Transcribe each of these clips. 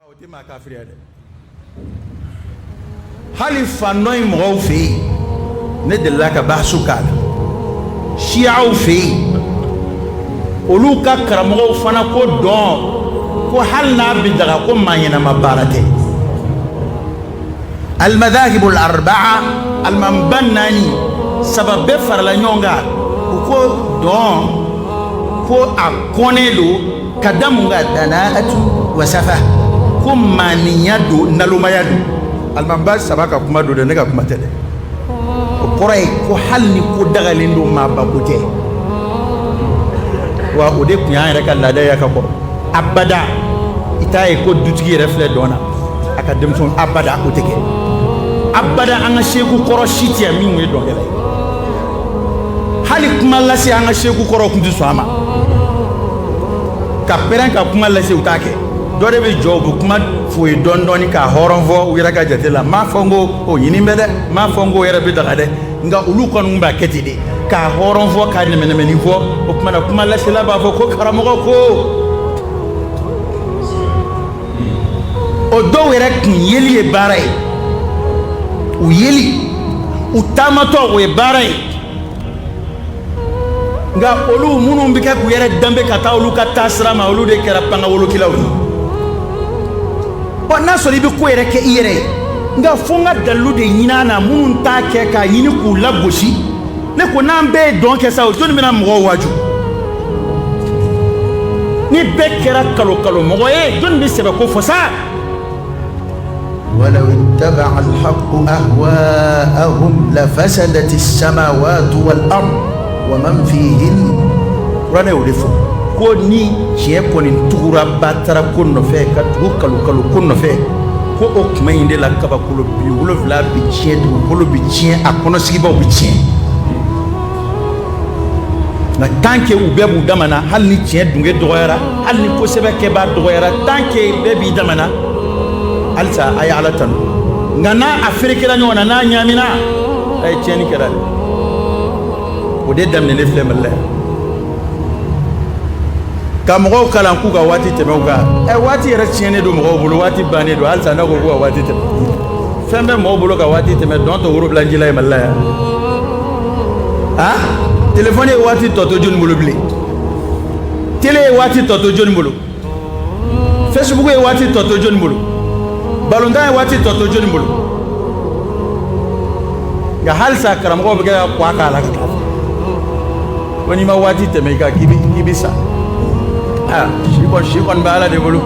O tɛ maa kafiriya dɛ hali fan dɔ in mɔgɔw fɛ yen ne delila ka bahasu k'a la siyaw fɛ yen olu ka karamɔgɔw fana ko dɔn ko hali n'a bɛ daga ko maa ɲɛnama baara tɛ alimadahibu alarabaa alimamiba naani saba bɛɛ farala ɲɔgɔn kan u ko dɔn ko a kɔnnen don ka da mun kan danaatu wa safa ko maaninya don nalomaya don alimamiba saba ka kuma don dɛ ne ka kuma tɛ dɛ o kɔrɔ ye ko hali ni ko dagalen don maaba ko tɛ wa o de tun y'an yɛrɛ ka laada ye ka kɔrɔ abada i t'a ye ko dutigi yɛrɛ filɛ dɔn na a ka denmisɛnw abada o tɛ kɛ abada an ka seku kɔrɔ si tɛ yan min ye dɔnkɛla ye hali kuma lase an ka seku kɔrɔw tun tɛ sɔn a ma ka pɛrɛn ka kuma lase u t'a kɛ dɔ de bɛ jɔ u bɛ kuma f'o ye dɔɔni dɔɔni k'a hɔrɔn fɔ u yɛrɛ ka jate la m'a fɔ n ko o ɲinin bɛ dɛ m'a fɔ n ko o yɛrɛ bɛ daga dɛ nka olu kɔni tun b'a kɛ ten de k'a hɔrɔn fɔ k'a nɛmɛnɛmɛni fɔ o tuma na kuma lasela b'a fɔ ko karamɔgɔ ko o dɔw yɛrɛ kun yeli ye baara ye u yeli u taamatɔ o ye baara ye nka olu minnu bɛ kɛ k'u yɛrɛ danbe ka taa olu ka taasira ma olu de kɛra pangawolokilaw ye ɔ n'a sɔrɔ i bɛ ko yɛrɛ kɛ i yɛrɛ ye nka fo n ka dalilu de ɲini a na minnu t'a kɛ k'a ɲini k'u lagosi ne ko n'an bɛɛ ye dɔn kɛ sa o jɔni bɛna mɔgɔw waaju ni bɛɛ kɛra kalo kalo mɔgɔ ye jɔn bɛ sɛbɛ ko fɔ sa walaw itabaa alhaku ahwahum lafasadati samawatu wal ardu wa man fihina kuranɛ y'o de fɔ ko ni tiɲɛ kɔni tugura batara ko nɔfɛ ka tugu kalo kalo ko nɔfɛ ko o tuma in de la kabakolo bi wolonfila bɛ tiɲɛ dugukolo bɛ tiɲɛ a kɔnɔ sigibaaw bɛ tiɲɛ nka tant que u bɛɛ b'u dama na, hali ni tiɲɛ dunke dɔgɔyara, hali ni ko sɛbɛ kɛbaa dɔgɔyara, tant que bɛɛ b'i dama na, halisa a ye Ala tanu, nka n'a a ferekera ɲɔgɔn na, n'a ɲaamina, a ye tiɲɛni kɛra dɛ. O de daminɛnen filɛ Mali la yan. Ka mɔgɔw kalan k'u ka waati tɛmɛ u kan, ɛ waati yɛrɛ tiɲɛnen don mɔgɔw bolo, waati bannen don, halisa n'a ko k'u ka waati tɛmɛ. Fɛn bɛ mɔgɔw bolo ka waati tɛmɛ, dɔn t'o worobilanjila ye Mali la yan. aa telefɔni ye waati tɔ to jɔni bolo bilen tele ye waati tɔ to jɔni bolo fɛsibuku ye waati tɔ to jɔni bolo balontan ye waati tɔ to jɔni bolo nka halisa karamɔgɔw bɛ kɛ ka k'a la ka taa ko n'i ma waati tɛmɛ i kan k'i k'i bɛ sa aa si kɔni si kɔni bɛ ala de bolo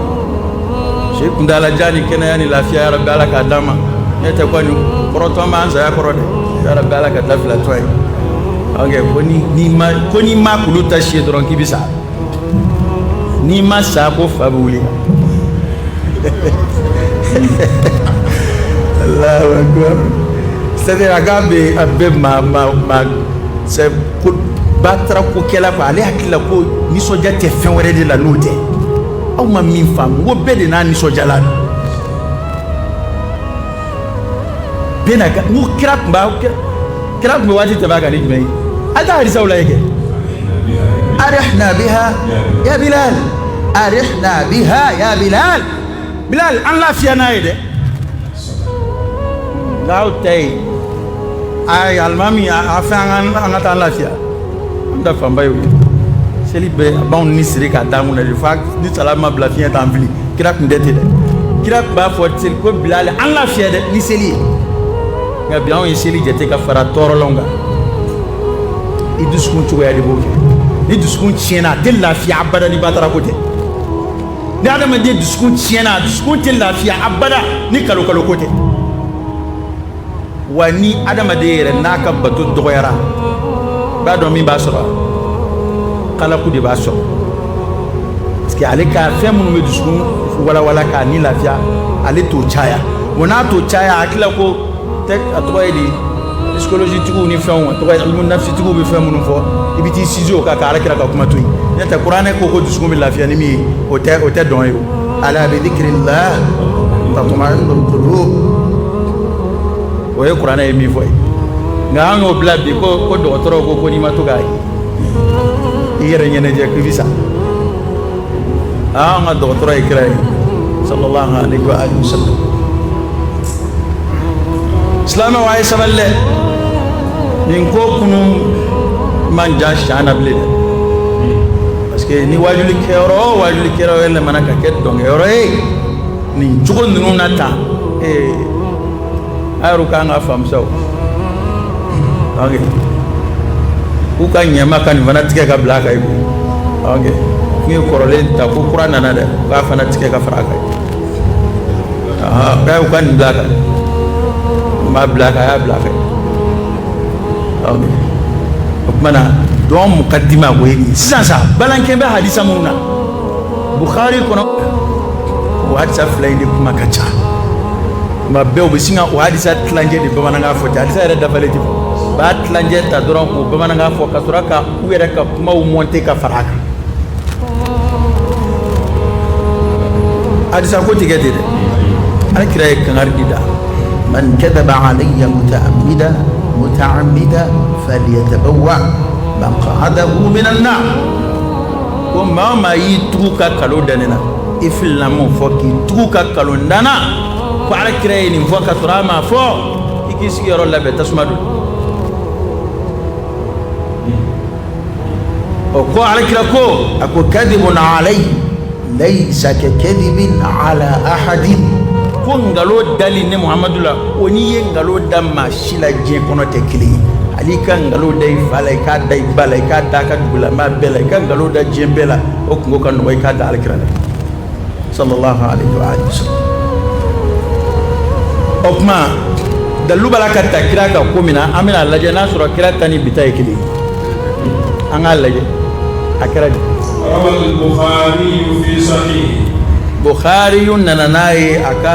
si kuntaala jan ni kɛnɛya ni lafiya yarabi ala k'a d'an ma ne tɛ kɔni kɔrɔtɔ b'an saya kɔrɔ dɛ yarabi ala ka dabila tɔ ye ok ko ni n'i ma ko n'i ma kulu ta si ye dɔrɔn k'i bɛ sa n'i ma sa ko fa bɛ wuli Allahu akbar c'est-à-dire a k'a bɛ a bɛ maa maa maa batara ko kɛla ko ale hakili la ko nisɔndiya tɛ fɛn wɛrɛ de la n'o tɛ aw ma min faamu ko bɛɛ de n'a nisɔndiyalan don bɛɛ n'a n ko kira tun b'a kira tun bɛ waati tɛmɛ a kan ni jumɛn ye a taa hadisaw lajɛ kɛ arihna biha ya bilal arihna biha ya bilal bilal an lafiya n'a ye dɛ Nka aw ta ye ayi alimami a fɛn an ka taa an lafiya an ta fanba y'o ye seli bɛ a b'anw ni siri k'a d'an kun na de fo ni salama bila fiɲɛ t'an fili kira tun tɛ ten dɛ kira tun b'a fɔ seli ko bilal an lafiya dɛ ni seli ye nka bi anw ye seli jate ka fara tɔɔrɔlanw kan i dusukun cogoya de b'o kɛ ni dusukun tiɲɛna a tɛ lafiya abada ni batara ko tɛ ni adamaden dusukun tiɲɛna dusukun tɛ lafiya abada ni kalo kalo ko tɛ wa ni adamaden yɛrɛ n'a ka bato dɔgɔyara b'a dɔn min b'a sɔrɔ kalaku de b'a sɔrɔ parce que ale ka fɛn minnu bɛ dusukun walawala k'a ni lafiya ale t'o caya wa n'a t'o caya a hakili la ko a tɔgɔ ye di psychologie tigiw ni fɛnw nafsi tigiw bɛ fɛn minnu fɔ i bɛ taa i sinsin o kan ka ala kira ka kuma to yen n'o tɛ kuranɛ ko ko dusukun bɛ lafiya ni min ye o tɛ o tɛ dɔn ye ala bi zikrillahi tatma'innul qulub o ye kuranɛ ye min fɔ ye nka an y'o bila bi ko ko dɔgɔtɔrɔw ko ko n'i ma to ka i yɛrɛ ɲɛnajɛ k'i bɛ sa an ka dɔgɔtɔrɔ ye kira ye sallallahu alaihi wa alihi wasallam silamɛw a ye sabali dɛ nin ko kunu man jan siyan na bilen dɛ parce que ni waajuli kɛyɔrɔ o waajuli kɛyɔrɔ yɛlɛmana ka kɛ dɔnkɛyɔrɔ ye nin cogo ninnu na tan ee a y'o k'an ka faamu sa ok k'u ka ɲɛma ka nin fana tigɛ ka bila a kan yen k'u ye kɔrɔlen ta ko kura nana dɛ k'a fana tigɛ ka fara a kan bɛɛ y'u ka nin bila kan u m'a bila kan a y'a bila fɛ o tuma na dɔn mukadima ko ye sisan sa balankɛ bɛ halisa minnu na buhari kɔnɔ o hadisa fila in de kuma ka ca maa bɛɛ u bɛ sin ka o hadisa tilancɛ de bamanankan fɔ cɛ hadisa yɛrɛ dafalen tɛ u b'a tilancɛ ta dɔrɔn k'o bamanankan fɔ ka sɔrɔ ka u yɛrɛ ka kumaw mɔnte ka fara a kan hadisa ko tigɛ tɛ dɛ ala kira ye kangari de da man kadaba alayya mutaamida falyatabawwa maq'adahu minan nar ko maa maa y'i tugu ka nkalon da ne na i filila m'o fɔ k'i tugu ka nkalon da n na ko ala kira ye nin fɔ ka sɔrɔ a m'a fɔ i k'i sigiyɔrɔ labɛn tasuma dɔ o ko ala kira ko a ko kadibun alayi layisa ka kadibin ala ahadin ko nkalon dali ne muhamadu la o n'i ye nkalon da maa si la diɲɛ kɔnɔ tɛ kelen ye hali i ka nkalon da i fa la i k'a da i ba la i k'a da a ka dugulamaa bɛɛ la i ka nkalon da diɲɛ bɛɛ la o kunko ka nɔgɔ i k'a da ala kira la sallallahu alaihi wa sallam o kuma dalilu b'a la ka ta kira ka ko min na an bɛna a lajɛ n'a sɔrɔ kira ta ni bi ta ye kelen ye an k'a lajɛ a kɛra di bukhari nana n'a ye a ka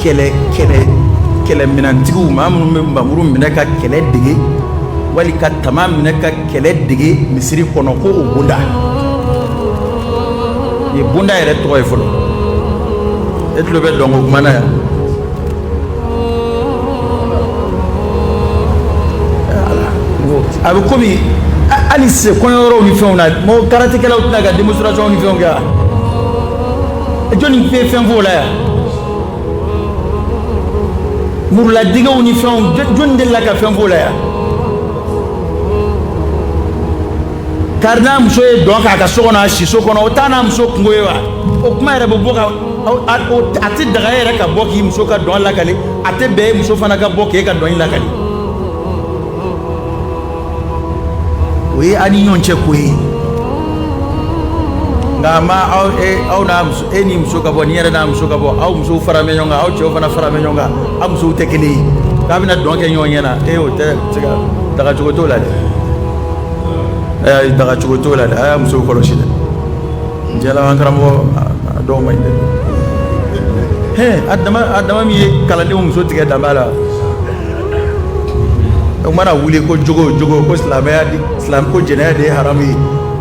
kɛlɛ kɛlɛ kɛlɛminɛntigiw maa minnu bɛ npanmuru minɛ ka kɛlɛ dege wali ka tama minɛ ka kɛlɛ dege misiri kɔnɔ ko o bonda nin bonda yɛrɛ tɔgɔ ye fɔlɔ e tulo bɛ dɔnko kuma na yan a bɛ komi hali se kɔɲɔyɔrɔw ni fɛnw na mɔgɔ karatekɛlaw tɛ na ka démonstration ni fɛnw kɛ wa jɔnni bɛ fɛn f'o la yan muruladegew ni fɛnw jɔnni delila ka fɛn f'o la yan kari n'a muso ye dɔn k'a ka so kɔnɔ a siso kɔnɔ o t'a n'a muso kunko ye wa o kuma yɛrɛ bɛ bɔ ka a tɛ daga yɛrɛ ka bɔ k'i muso ka dɔn lakali a tɛ bɛn e muso fana ka bɔ k'e ka dɔn lakali o ye aw ni ɲɔgɔn cɛ ko ye nka a ma aw e aw n'a muso e n'i muso ka bɔ nin yɛrɛ n'a muso ka bɔ aw musow faralen bɛ ɲɔgɔn kan aw cɛw fana faralen bɛ ɲɔgɔn kan aw musow tɛ kelen ye k'a bɛna dɔn kɛ ɲɔgɔn ɲɛ na e o tɛ se ka daga cogo t'o la dɛ a dagacogo t'o la dɛ a y'aw musow kɔlɔsi dɛ diɲɛ laban karamɔgɔ dɔw man ɲi dɛ hɛn a dama min ye kalandenw muso tigɛ danba la o mana wuli ko jogo jogo ko silamɛya di silamɛ ko jɛnɛya de ye haramu ye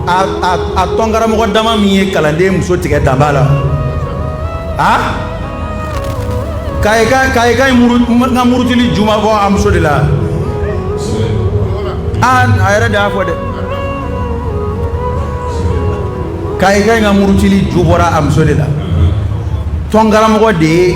a a a tɔnkaramɔgɔ dama min ye kalanden muso tigɛ danba la a kayika kayika ye muru n ka murutili ju ma bɔ a muso de la a a yɛrɛ de y'a fɔ dɛ kayika in ka murutili ju bɔra a muso de la tɔnkaramɔgɔ de ye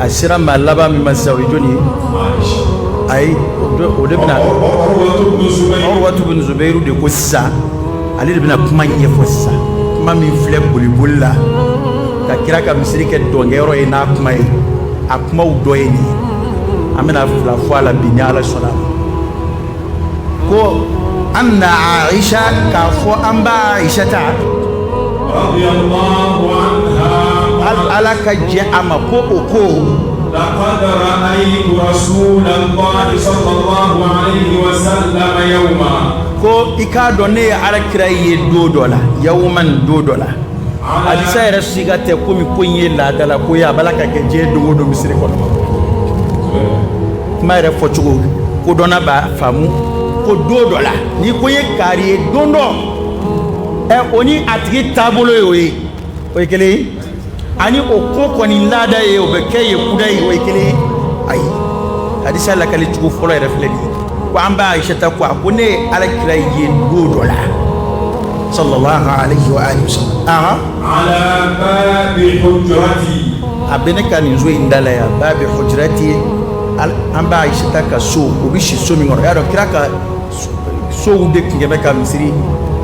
a sera maa laban min ma sa o ye jɔnni ye ayi o de bɛna Urwatu bin Zubairu de ko sisan ale de bɛna kuma ɲɛfɔ sisan kuma min filɛ boliboli la ka kira ka misiri kɛ dɔnkɛyɔrɔ ye n'a kuma ye a kumaw dɔ ye nin ye an bɛna fila fɔ a la bi ni Ala sɔnna ko an na aisha k'a fɔ an b'a aisha ta ala ka jɛ a ma ko o ko ko i k'a dɔn ne ye ala kira ye do dɔ la yawuma ni do dɔ la alisa yɛrɛ si ka tɛ komi ko in ye laadala ko ye a b'a ka kɛ diɲɛ don o don misiri kɔnɔ kuma yɛrɛ fɔ cogo kodɔnna b'a faamu ko don dɔ la n'i ko i ye kari ye don dɔ ɛ o ni a tigi taabolo ye o ye o ye kelen ye ani o ko kɔni laada ye o bɛ kɛ yen kudayi o ye kelen ye ayi hadisa lakali cogo fɔlɔ yɛrɛ filɛ nin ye ko an ba ayisata ko a ko ne ye alakira ye don dɔ la sallallahu alayhi wa sallam a bɛ ne ka nin so in da la yan babi hujrati an ba ayisata ka so u bɛ si so min kɔnɔ y'a dɔn kira ka sow de tun bɛ ka misiri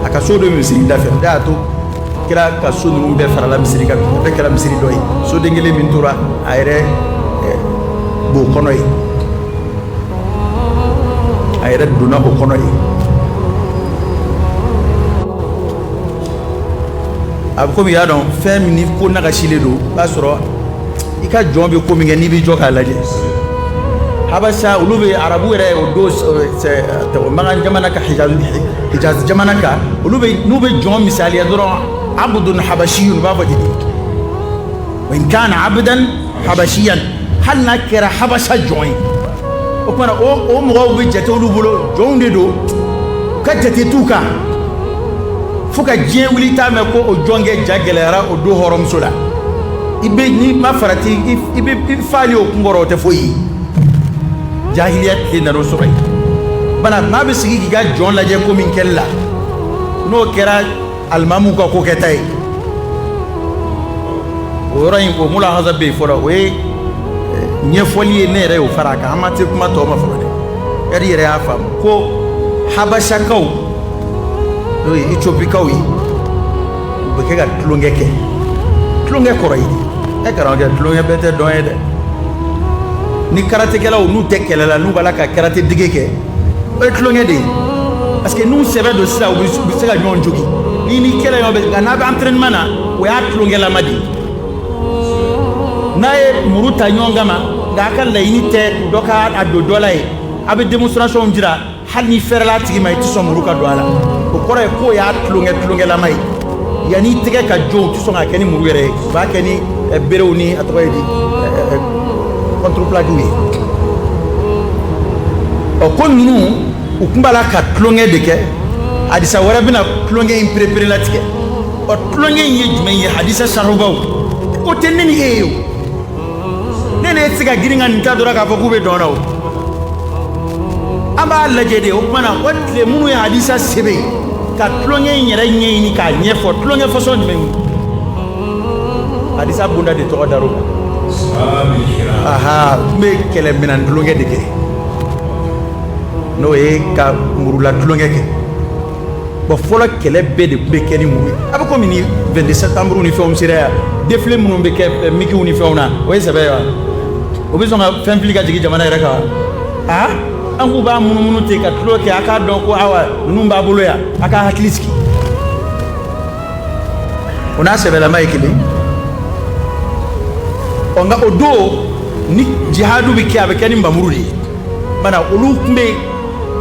a ka sow de bɛ misiri da fɛ o de y'a to kira ka so ninnu bɛɛ farala misiri kan bɛɛ kɛra misiri dɔ ye soden kelen min tora a yɛrɛ eh, b'o kɔnɔ yen a yɛrɛ donna o kɔnɔ yen a bɛ komi y'a dɔn fɛn min ni ko nagasilen don i b'a sɔrɔ i ka jɔn bɛ ko min kɛ n'i b'i jɔ k'a lajɛ habasa olu bɛ arabu yɛrɛ o don makan jamana kan hijazi jamana kan olu n'u bɛ jɔn misaliya dɔrɔn abudun habasiyun u b'a fɔ ten wa in kana abudan habasiyan hali n'a kɛra habasa jɔn ye o tuma na o mɔgɔw bɛ jate olu bolo jɔnw de don u ka jate t'u kan fo ka diɲɛ wuli t'a mɛn ko o jɔnkɛ ja gɛlɛyara o don hɔrɔnmuso la i bɛ n'i ma farati i bɛ i fa ye o kun kɔrɔ o tɛ foyi ye jahiliya tile nana o sɔrɔ yen bana maa bɛ sigi k'i ka jɔn lajɛ ko min kɛli la n'o kɛra alimamu ka ko kɛta ye o yɔrɔ in o mulahaza bɛ yen fɔlɔ o ye ɲɛfɔli ye ne yɛrɛ y'o fara a kan an ma se kuma tɔ ma fɔlɔ dɛ yari yɛrɛ y'a faamu ko habasakaw n'o ye etiopikaw ye u bɛ kɛ ka tulonkɛ kɛ tulonkɛ kɔrɔ ye di ɛ karamɔgɔkɛ tulonkɛ bɛɛ tɛ dɔn ye dɛ ni karatekɛlaw n'u tɛ kɛlɛ la n'u b'a la ka karate dege kɛ o ye tulonkɛ de ye parce que n'u sɛbɛ don sisan u bɛ se ka ɲɔgɔn jogi n'i ni kɛlɛ ɲɔgɔn bɛ nka n'a bɛ entraînement na o y'a tulonkɛlama de ye n'a ye muru ta ɲɔgɔn kama nka a ka laɲini tɛ dɔ ka a don dɔ la ye a bɛ démonstration jira hali ni fɛrɛla a tigi ma i tɛ sɔn muru ka don a la o kɔrɔ ye k'o y'a tulonkɛ tulonkɛlama ye Yan'i tɛgɛ ka jo u tɛ sɔn k'a kɛ ni muru yɛrɛ ye u b'a kɛ ni berew ni a tɔgɔ ye di contreplaquéw ye ɔ ko ninnu u tun b'a la ka tulonkɛ de kɛ hadisa wɛrɛ bɛna tulonkɛ in pereperelatigɛ ɔ tulonkɛ in ye jumɛn ye hadisa sarahubaw o tɛ ne ni e ye ne ni e tɛ se ka girin ka nin ta dɔrɔn k'a fɔ k'u bɛ dɔn na o an b'a lajɛ de o tuma na o tile minnu ye hadisa sɛbɛn ka tulonkɛ in yɛrɛ ɲɛɲini k'a ɲɛfɔ tulonkɛ façon jumɛn hadisa bonda de tɔgɔ dar'o kan aha n bɛ kɛlɛminɛn tulonkɛ de kɛ n'o ye ka murula tulonkɛ kɛ bon fɔlɔ kɛlɛ bɛɛ de tun bɛ kɛ ni muru ye a bɛ komi ni 22 septembre ni fɛnw sera yan défilé minnu bɛ kɛ eh, mikiw ni fɛnw na o ye sɛbɛ ye wa o bɛ sɔn ka fɛn fili ka jigin jamana yɛrɛ kan wa aa nk'u b'a munumunu ten ka tulon kɛ a k'a dɔn ko awa ninnu b'a bolo yan a k'a hakili sigi o n'a sɛbɛlama ye kelen ɔ nka o don ni jihadu bɛ kɛ a bɛ kɛ ni npanmuru de ye bana olu tun bɛ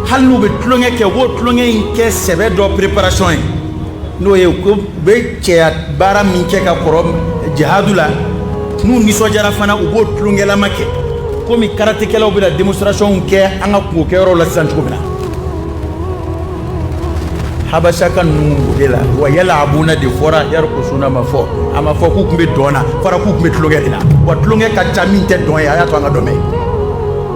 hali n'u bɛ tulonkɛ kɛ u b'o tulonkɛ in kɛ sɛbɛ dɔ préparation ye n'o ye ko u bɛ cɛya baara min kɛ ka kɔrɔ jihadu la n'u nisɔndiyara fana u b'o tulonkɛlama kɛ komi karatekɛlaw bɛna démonstration kɛ an ka kunko kɛyɔrɔw la sisan cogo min na habasaka ninnu o de la wa yalabuna de fɔra yarkusuna ma fɔ a ma fɔ k'u tun bɛ dɔn na fɔra k'u tun bɛ tulonkɛ de la wa tulonkɛ ka ca min tɛ dɔn ye a y'a to an ka dɔ mɛn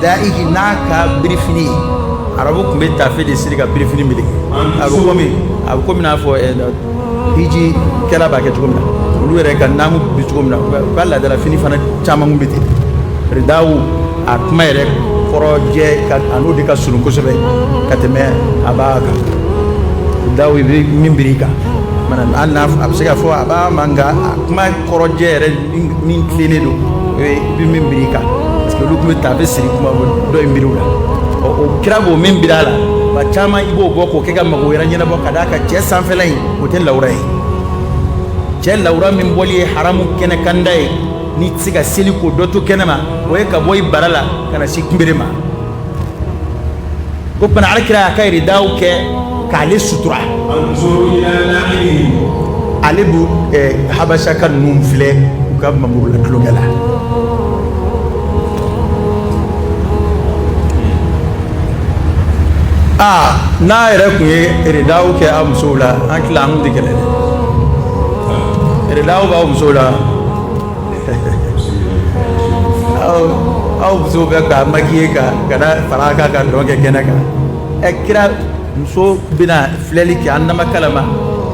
daihi n'a ka birifini arabu tun bɛ tafe de siri ka birifini meleke a bɛ komi n'a fɔ hijikɛla b'a kɛ cogo min na olu yɛrɛ ka naamu bi cogo min na u ka laadala fini fana caman kun bɛ ten ridaw a kuma yɛrɛ kɔrɔjɛ a n'o de ka surun kosɛbɛ ka tɛmɛ abaa kan ridaw i bɛ min biri i kan hali n'a a bɛ se ka fɔ abaa ma nka a kuma kɔrɔjɛ yɛrɛ min tilennen don o ye i bɛ min biri i kan parce que olu tun bɛ tafe siri kuma dɔ in biri u la ɔ o kira b'o min biri a la ba caman i b'o bɔ k'o kɛ ka mago wɛrɛ ɲɛnabɔ ka d'a kan cɛ sanfɛla in o tɛ lawura ye cɛ lawura min bɔli ye haramu kɛnɛkanda ye n'i tɛ se ka seli k'o dɔ to kɛnɛ ma o ye ka bɔ i bara la ka na se kunbere ma ko bana ala kira y'a ka ridaw kɛ k'ale sutura ale bɛ eh, habasaka ninnu filɛ u ka mamuru la tulonkɛ la aa n'aw yɛrɛ tun ye ridaw kɛ aw musow la an tila an tɛ kɛlɛ dɛ ridaw b'aw musow la aw musow bɛ ka makiye ka ka fara a kan ka dɔn kɛ kɛnɛ kan ɛ kira muso bɛna filɛli kɛ a namakalama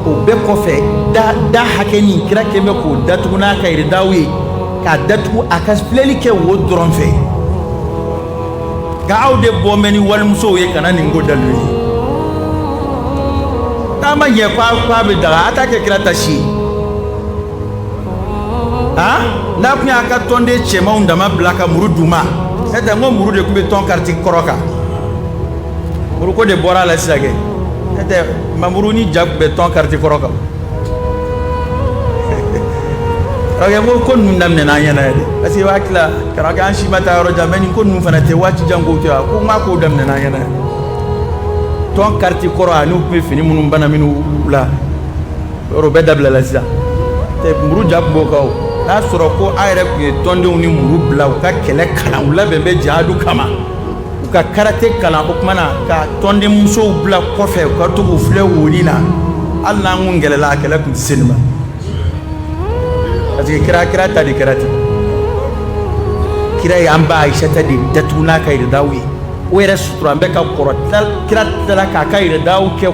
o bɛɛ kɔfɛ da da hakɛ nin kira tun bɛ k'o datugu n'a ka ridaw ye k'a datugu a ka filɛli kɛ wo dɔrɔn fɛ nka aw de bɔ mɛ ni walimusow ye ka na nin kɛ dalu ye n'a ma ɲɛ k'a bɛ daga a t'a kɛ kira ta si ye aa n'a tun y'a ka tɔnden cɛmanw dama bila ka muru d'u ma n'o tɛ n ko muru de tun bɛ tɔn kariti kɔrɔ kan muruko de bɔra a la sisan kɛ n'o tɛ mamuru ni ja tun bɛ tɔn kariti kɔrɔ kan karamɔgɔkɛ n ko ko ninnu daminɛna an ɲɛna yɛrɛ parce que i b'a tila karamɔgɔkɛ an si ma taa yɔrɔ jan mɛ nin ko ninnu fana tɛ waati jan kow tɛ wa ko n k'a kow daminɛna an ɲɛna yɛrɛ tɔn kariti kɔrɔ ani u tun bɛ fini minnu bana minnu la yɔrɔ bɛɛ dabilala sisan muru ja tun b'o kan n'a sɔrɔ ko a yɛrɛ tun ye tɔndenw ni muru bila u ka kɛlɛ kalan u labɛn bɛ jihadu kama u ka karate kalan o tuma na ka tɔnden musow bila kɔfɛ u ka to k'u filɛ woli na hali n'an tun kɛlɛla a kɛlɛ tun tɛ se nin ma parce que kira kira ta de kɛra ten kira ye an ba ayisata de datugu n'a ka ridaw ye o yɛrɛ suturalen bɛ ka kɔrɔ kira tilala k'a ka ridaw kɛ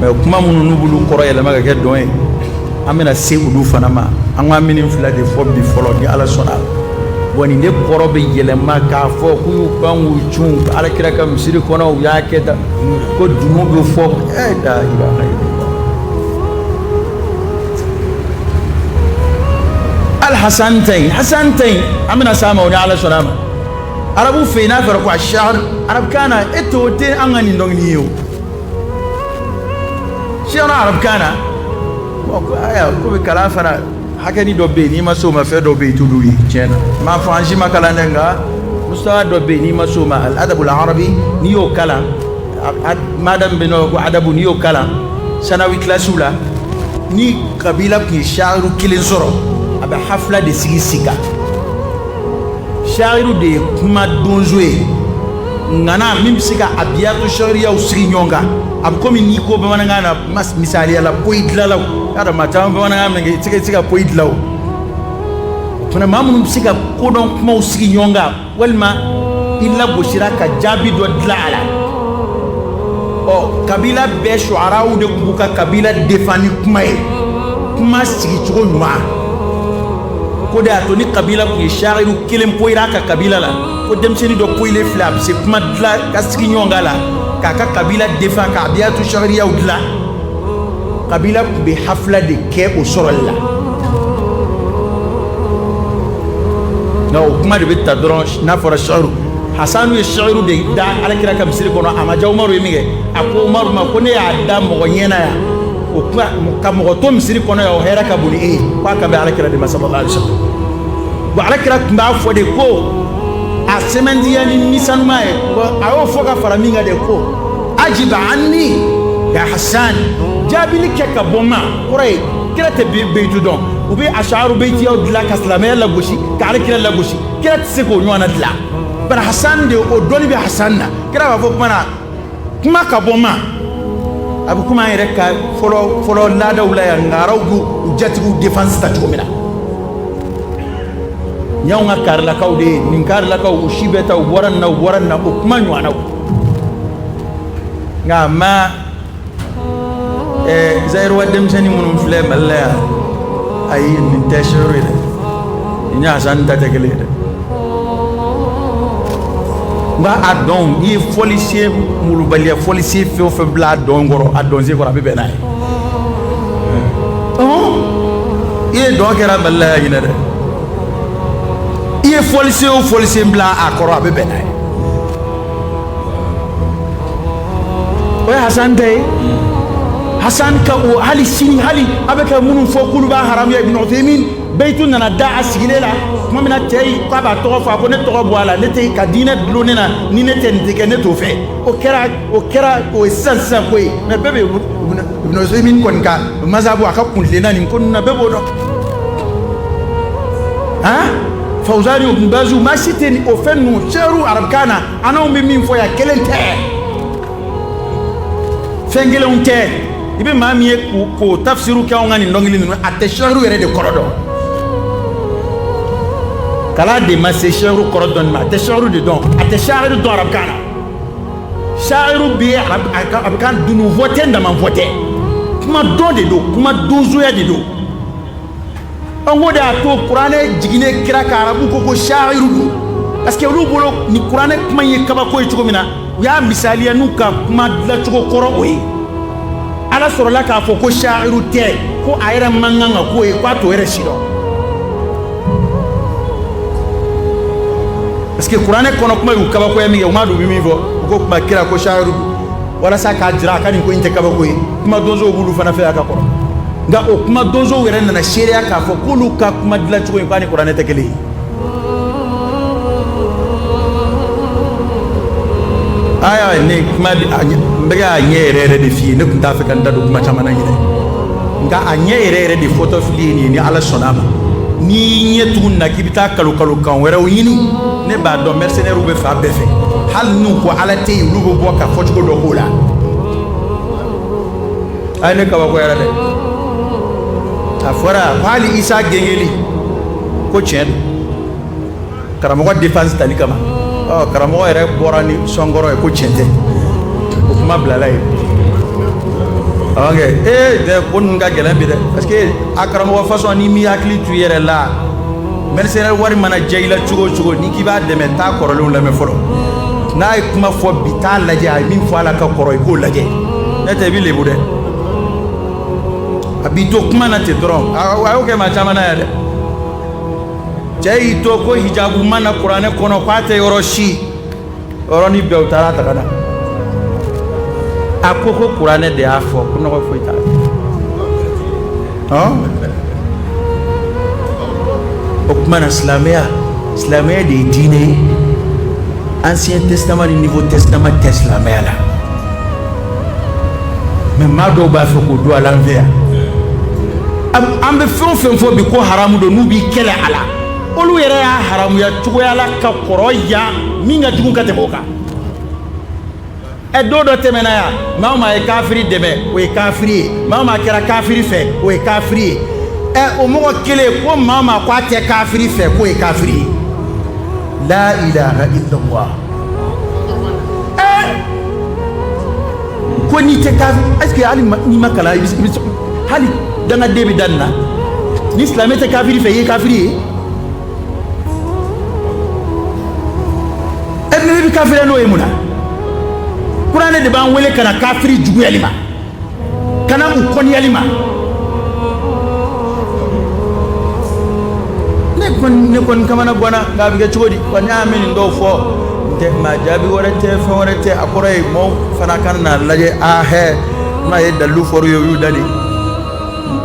mɛ kuma minnu n'u b'olu kɔrɔ yɛlɛma ka kɛ dɔn ye an bɛna se olu fana ma an ka ninnu fila de fɔ bi fɔlɔ ni ala sɔnna bon nin de kɔrɔ bɛ yɛlɛma k'a fɔ k'u y'u pan k'u cun ala kira ka misiri kɔnɔ u y'a kɛ tan ko dunun bɛ fɔ e da i b'a ye ali hasan tɛ yen hasan tɛ yen an bɛna s'a ma o ni ala sɔnna a ma arabu fɛ yen n'a fɔra ko a sari arabukan na e t'o tɛ an ka nin dɔnkili ye o si arabukan na ko bɛ kalan fana hakɛnin dɔ bɛ yen n'i ma s'o ma fɛn dɔ bɛ yen i t'olu ye tiɲɛ na n m'a fɔ an si ma kalan dɛ nka mustawa dɔ bɛ yen n'i ma s'o ma al-adabul arabi n'i y'o kalan mada bɛ yen ko adabu n'i y'o kalan sanawi kilasiw la ni kabila tun ye sha'iru kelen sɔrɔ a bɛ hafila de sigi sigi sha'iru de ye kuma donso ye ŋana min bɛ se ka abiyatu shi'iriyaw sigi ɲɔgɔn kan a bɛ komi n'i ko bamanankan na mas- misaliya la poyi dilalaw y'a dɔn maa caman bamanankan mɛn kɛ i tɛ se- i tɛ se ka poyi dilan o fana maa minnu bɛ se ka kodɔn kumaw sigi ɲɔgɔn kan walima i lagosira ka jaabi dɔ dilan a la ɔ kabila bɛɛ shu'araw de tun b'u ka kabila defan ni kuma ye kuma sigicogo ɲuman ko de y'a to ni kabila tun ye sha'iru kelen poyira a ka kabila la ko denmisɛnnin dɔ poyilen filɛ a bɛ se kuma dilan ka sigi ɲɔgɔn kan la k'a ka kabila defan ka abiyatu shi'iriyaw dilan kabila tun bɛ hafila de kɛ o sɔrɔli la nka o kuma de bɛ ta dɔrɔn n'a fɔra shi'iru hasanu ye shi'iru de da alakira ka misiri kɔnɔ a ma diya umaru ye min kɛ a ko umaru ma ko ne y'a da mɔgɔ ɲɛna yan o kuma ka mɔgɔ to misiri kɔnɔ yan o hɛrɛ ka bon ni e ye k'a kan bɛ alakira de ma sallallahu alaihi wasallam bon alakira tun b'a fɔ de ko a sɛmɛntiya ni ni senuman ye a y'o fɔ ka fara min kan de ko ajib anni ya hasan jaabili kɛ ka bɔ n ma kɔrɔ ye kira tɛ beyitu dɔn u bɛ asharu beyitiyaw dilan ka silamɛya lagosi ka alakira lagosi kira tɛ se k'o ɲɔgɔnna dilan bari hasan de o dɔnni bɛ hasan na kira b'a fɔ kuma na kuma ka bɔ n ma a bɛ komi an yɛrɛ ka fɔlɔ fɔlɔ laadaw la yan ngaraw b'u jatigiw défense ta cogo min na y'anw ka karilakaw de ye nin karilakaw u si bɛɛ ta u bɔra nin na u bɔra nin na o kuma ɲɔgɔnnaw nka ma ɛɛ zayiruwa denmisɛnnin minnu filɛ mali la yan ayi nin tɛ shi'iru ye dɛ nin ni hasan ta tɛ kelen ye dɛ nka a dɔn i ye fɔlisen molobaliya fɔlisen fɛn o fɛn bila a dɔn kɔrɔ a dɔnsen kɔrɔ a bɛ bɛn n'a ye i ye dɔn kɛra mali la yan ɲinɛ dɛ i ye fɔlisen o fɔlisen bila a kɔrɔ a bɛ bɛn n'a ye o ye hasan tɛ ye hasan ka o hali sini hali a bɛ ka minnu fɔ k'olu b'a haramuya ibn Uthaymin beyitu nana da a sigilen la tuma min na cɛ yi k'a b'a tɔgɔ fɔ a ko ne tɔgɔ bɔ a la ne tɛ ka diinɛ dulon ne na ni ne tɛ nin tɛ kɛ ne t'o fɛ o kɛra o kɛra o ye sisan sisan ko ye mɛ bɛɛ bɛ ibn Uthaymin kɔni ka mazabu a ka kuntilenna nin ko ninnu na bɛɛ b'o dɔn han Fawzani ibn Bazu maa si tɛ nin o fɛn ninnu shi'iru arabukan na a n'anw bɛ min fɔ yan kelen tɛ fɛn kelenw tɛ i bɛ maa min ye k'o tafsiru kɛ anw ka nin dɔnkili ninnu a tɛ sha'iru yɛrɛ de kɔrɔ dɔn kalan de ma se sha'iru kɔrɔ dɔnni ma a tɛ sha'iru de dɔn a tɛ sha'iru dɔn arabukan na sha'iru bɛ arabukan dunun fɔ tɛ ntaman fɔ tɛ kuma dɔn de don kuma donsoya de don o ko de y'a to kuranɛ jiginnen kira kan arabu ko ko sha'iru don parce que olu bolo ni kuranɛ kuma ye kabako ye cogo min na u y'a misaliya n'u ka kuma dilancogo kɔrɔ o ye ala sɔrɔla k'a fɔ ko sha'iru tɛ ko a yɛrɛ man kan ka k'o ye k'a t'o yɛrɛ si dɔn parce que kuranɛ kɔnɔ kuma y'u kabakoya min kɛ u m'a dɔn u bɛ min fɔ u ko kuma kira ko sha'iru don walasa k'a jira a ka nin ko in tɛ kabako ye kuma donsow b'olu fana fɛ a ka kɔrɔ nka o kuma donsow yɛrɛ nana seereya k'a fɔ k'olu ka kuma dilancogo in k'a ni kuranɛ tɛ kelen ye aya ne kuma n bɛ k'a ɲɛ yɛrɛ yɛrɛ de f'i ye ne tun t'a fɛ ka n da don kuma caman na ɲinɛn nka a ɲɛ yɛrɛ yɛrɛ de fɔtɔ filɛ nin ye ni ala sɔnna a ma n'i ɲɛ tugun na k'i bɛ taa kalo kalo kan wɛrɛw ɲini ne b'a dɔn mercenaires bɛ fan bɛɛ fɛ hali n'u ko ala tɛ yen olu bɛ bɔ ka fɔcogo dɔ k'o la ayi ne kabakoyara dɛ a fɔra ko hali isa gengeli ko tiɲɛ don karamɔgɔ défense tali kama ɔ karamɔgɔ yɛrɛ bɔra ni sɔnkɔrɔ ye ko tiɲɛ tɛ o kuma bilala yen ok ee dɛ ko ninnu ka gɛlɛn bi dɛ parce que a karamɔgɔ façon n'i m'i hakili to i yɛrɛ la mercenaire wari mana diya i la cogo o cogo n'i k'i b'a dɛmɛ taa kɔrɔlenw lamɛn fɔlɔ n'a ye kuma fɔ bi taa lajɛ a ye min fɔ a la ka kɔrɔ i k'o lajɛ n'o tɛ i bɛ lebu dɛ a b'i to kuma na ten dɔrɔn a y'o kɛ maa caman na yan dɛ cɛ y'i to ko hijabu ma na kuranɛ kɔnɔ k'a tɛ yɔrɔ si yɔrɔnin bɛɛ u taara a ta ka na a ko ko kuranɛ de y'a fɔ ko nɔgɔ foyi t'a la o kuma na silamɛya silamɛya de ye diinɛ ye ancien testament ni nouveau testament tɛ silamɛya la mais maa dɔw b'a fɛ k'o don a la an fɛ yan an bɛ fɛn o fɛn fɔ bi ko haramu don n'u b'i kɛlɛ a la olu yɛrɛ y'a haramuya cogoya la ka kɔrɔ yan min ka jugu ka tɛmɛ o kan ɛ don dɔ tɛmɛna yan maa o maa ye kafiri dɛmɛ o ye kafiri ye maa o maa kɛra kafiri fɛ o ye kafiri ye ɛ o mɔgɔ kelen ko maa o maa ko a tɛ kafiri fɛ k'o ye kafiri ye la ilaha illallah ɛ ko n'i tɛ kafiri est ce que hali n'i ma kalan i bɛ hali dangaden bɛ da nin na ni silamɛ tɛ kafiri fɛ i ye kafiri ye e n'i bɛ kafiri n'o ye mun na kuranɛ de b'an wele ka na kafiri juguyali ma ka na u kɔniyali ma ne kɔni ne kɔni kamana bɔnna nka a bɛ kɛ cogo di wa ne y'a mɛn nin dɔw fɔ n tɛ maa jaabi wɛrɛ tɛ fɛn wɛrɛ tɛ a kɔrɔ ye maaw fana ka na lajɛ a hɛ n'a ye dalu fɔ u ye u y'u da de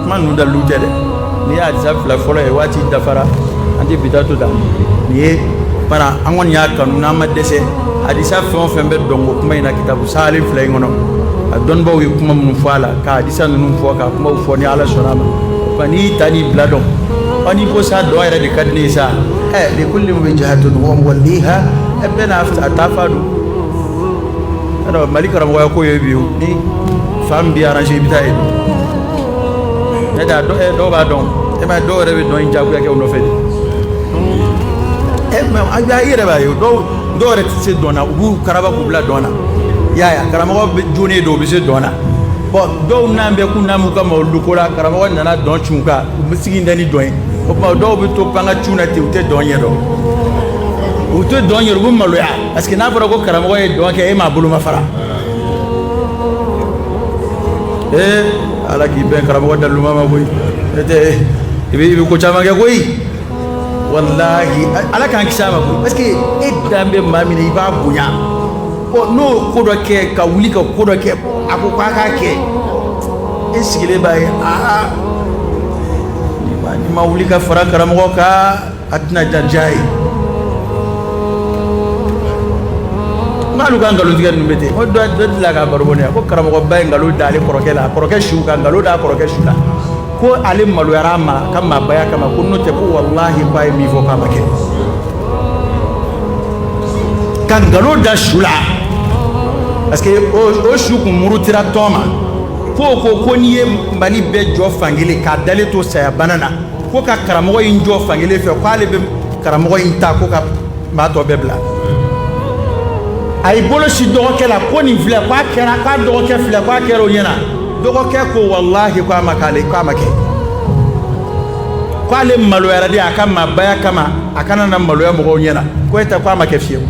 kuma ninnu dalu tɛ dɛ nin ye hadisa fila fɔlɔ ye waati dafara an tɛ bi ta to da nin ye fana an kɔni y'a kanu n'an ma dɛsɛ hadisa fɛn o fɛn bɛ dɔnko kuma in na kitabu sahalen fila in kɔnɔ a dɔnnibaaw ye kuma minnu fɔ a la ka hadisa ninnu fɔ ka kumaw fɔ ni ala sɔnna a ma wa n'i y'i ta n'i bila dɔn wa n'i ko sa dɔn yɛrɛ de ka di ne ye sa ɛ likulli wijhatun huwa muwalliha ɛ bɛɛ n'a taa fan don mali karamɔgɔya ko ye bi ni fan b'i arranger i bɛ taa yen dɔw b'a dɔn e dɔw yɛrɛ bɛ dɔn jagoya kɛ u nɔfɛ e i yɛrɛ b'a ye dɔw yɛrɛ tɛ se dɔn na u b'u karaba k'u bila dɔn na i y'a ye karamɔgɔ bɛ don don u bɛ se dɔn na dɔw n'an bɛ kun na u ka mawuludu ko la karamɔgɔ nana dɔn cun kan u bɛ sigi da ni dɔn ye o dɔw bɛ to pan ka cun na ten u tɛ dɔn ɲɛ dɔn u tɛ dɔn ɲɛ u bɛ maloya parce que n'a fɔra ko karamɔgɔ ye dɔn kɛ e m'a bolomafara ee ala k'i bɛn karamɔgɔ daluma ma koyi e tɛ i bɛ i bɛ ko caman kɛ koyi walahi ala k'an kisi a ma koyi parce que e dan bɛ maa min na i b'a bonya ɔ n'o ko dɔ kɛ ka wuli ka ko dɔ kɛ a ko k'a k'a kɛ e sigilen b'a ye aa n'i ma wuli ka fara karamɔgɔ kan a tɛna diya i ye n'alu ka nkalontigɛ ninnu bɛ ten o dɔ delila ka baro bɔ ne ye ko karamɔgɔba ye nkalon da ale kɔrɔkɛ la a kɔrɔkɛ su ka nkalon da a kɔrɔkɛ su la ko ale maloyara a ma ka maabaya kama ko n'o tɛ ko walahi ko a ye min fɔ k'a ma kɛ ka nkalon da su la parce que o o su kun murutira tɔn ma k'o ko ko n'i ye mali bɛɛ jɔ fankelen k'a dalen to saya bana na ko ka karamɔgɔ in jɔ fankelen fɛ k'ale bɛ karamɔgɔ in ta ko ka maa tɔ bɛɛ bila a y'i bolo sin dɔgɔkɛ la ko nin filɛ k'a kɛra k'a dɔgɔkɛ filɛ k'a kɛra o ɲɛna dɔgɔkɛ ko walahi k'a ma k'ale k'a ma kɛ k'ale maloyara de a ka maabaya kama a kana na maloya mɔgɔw ɲɛna ko e tɛ k'a ma kɛ fiyewu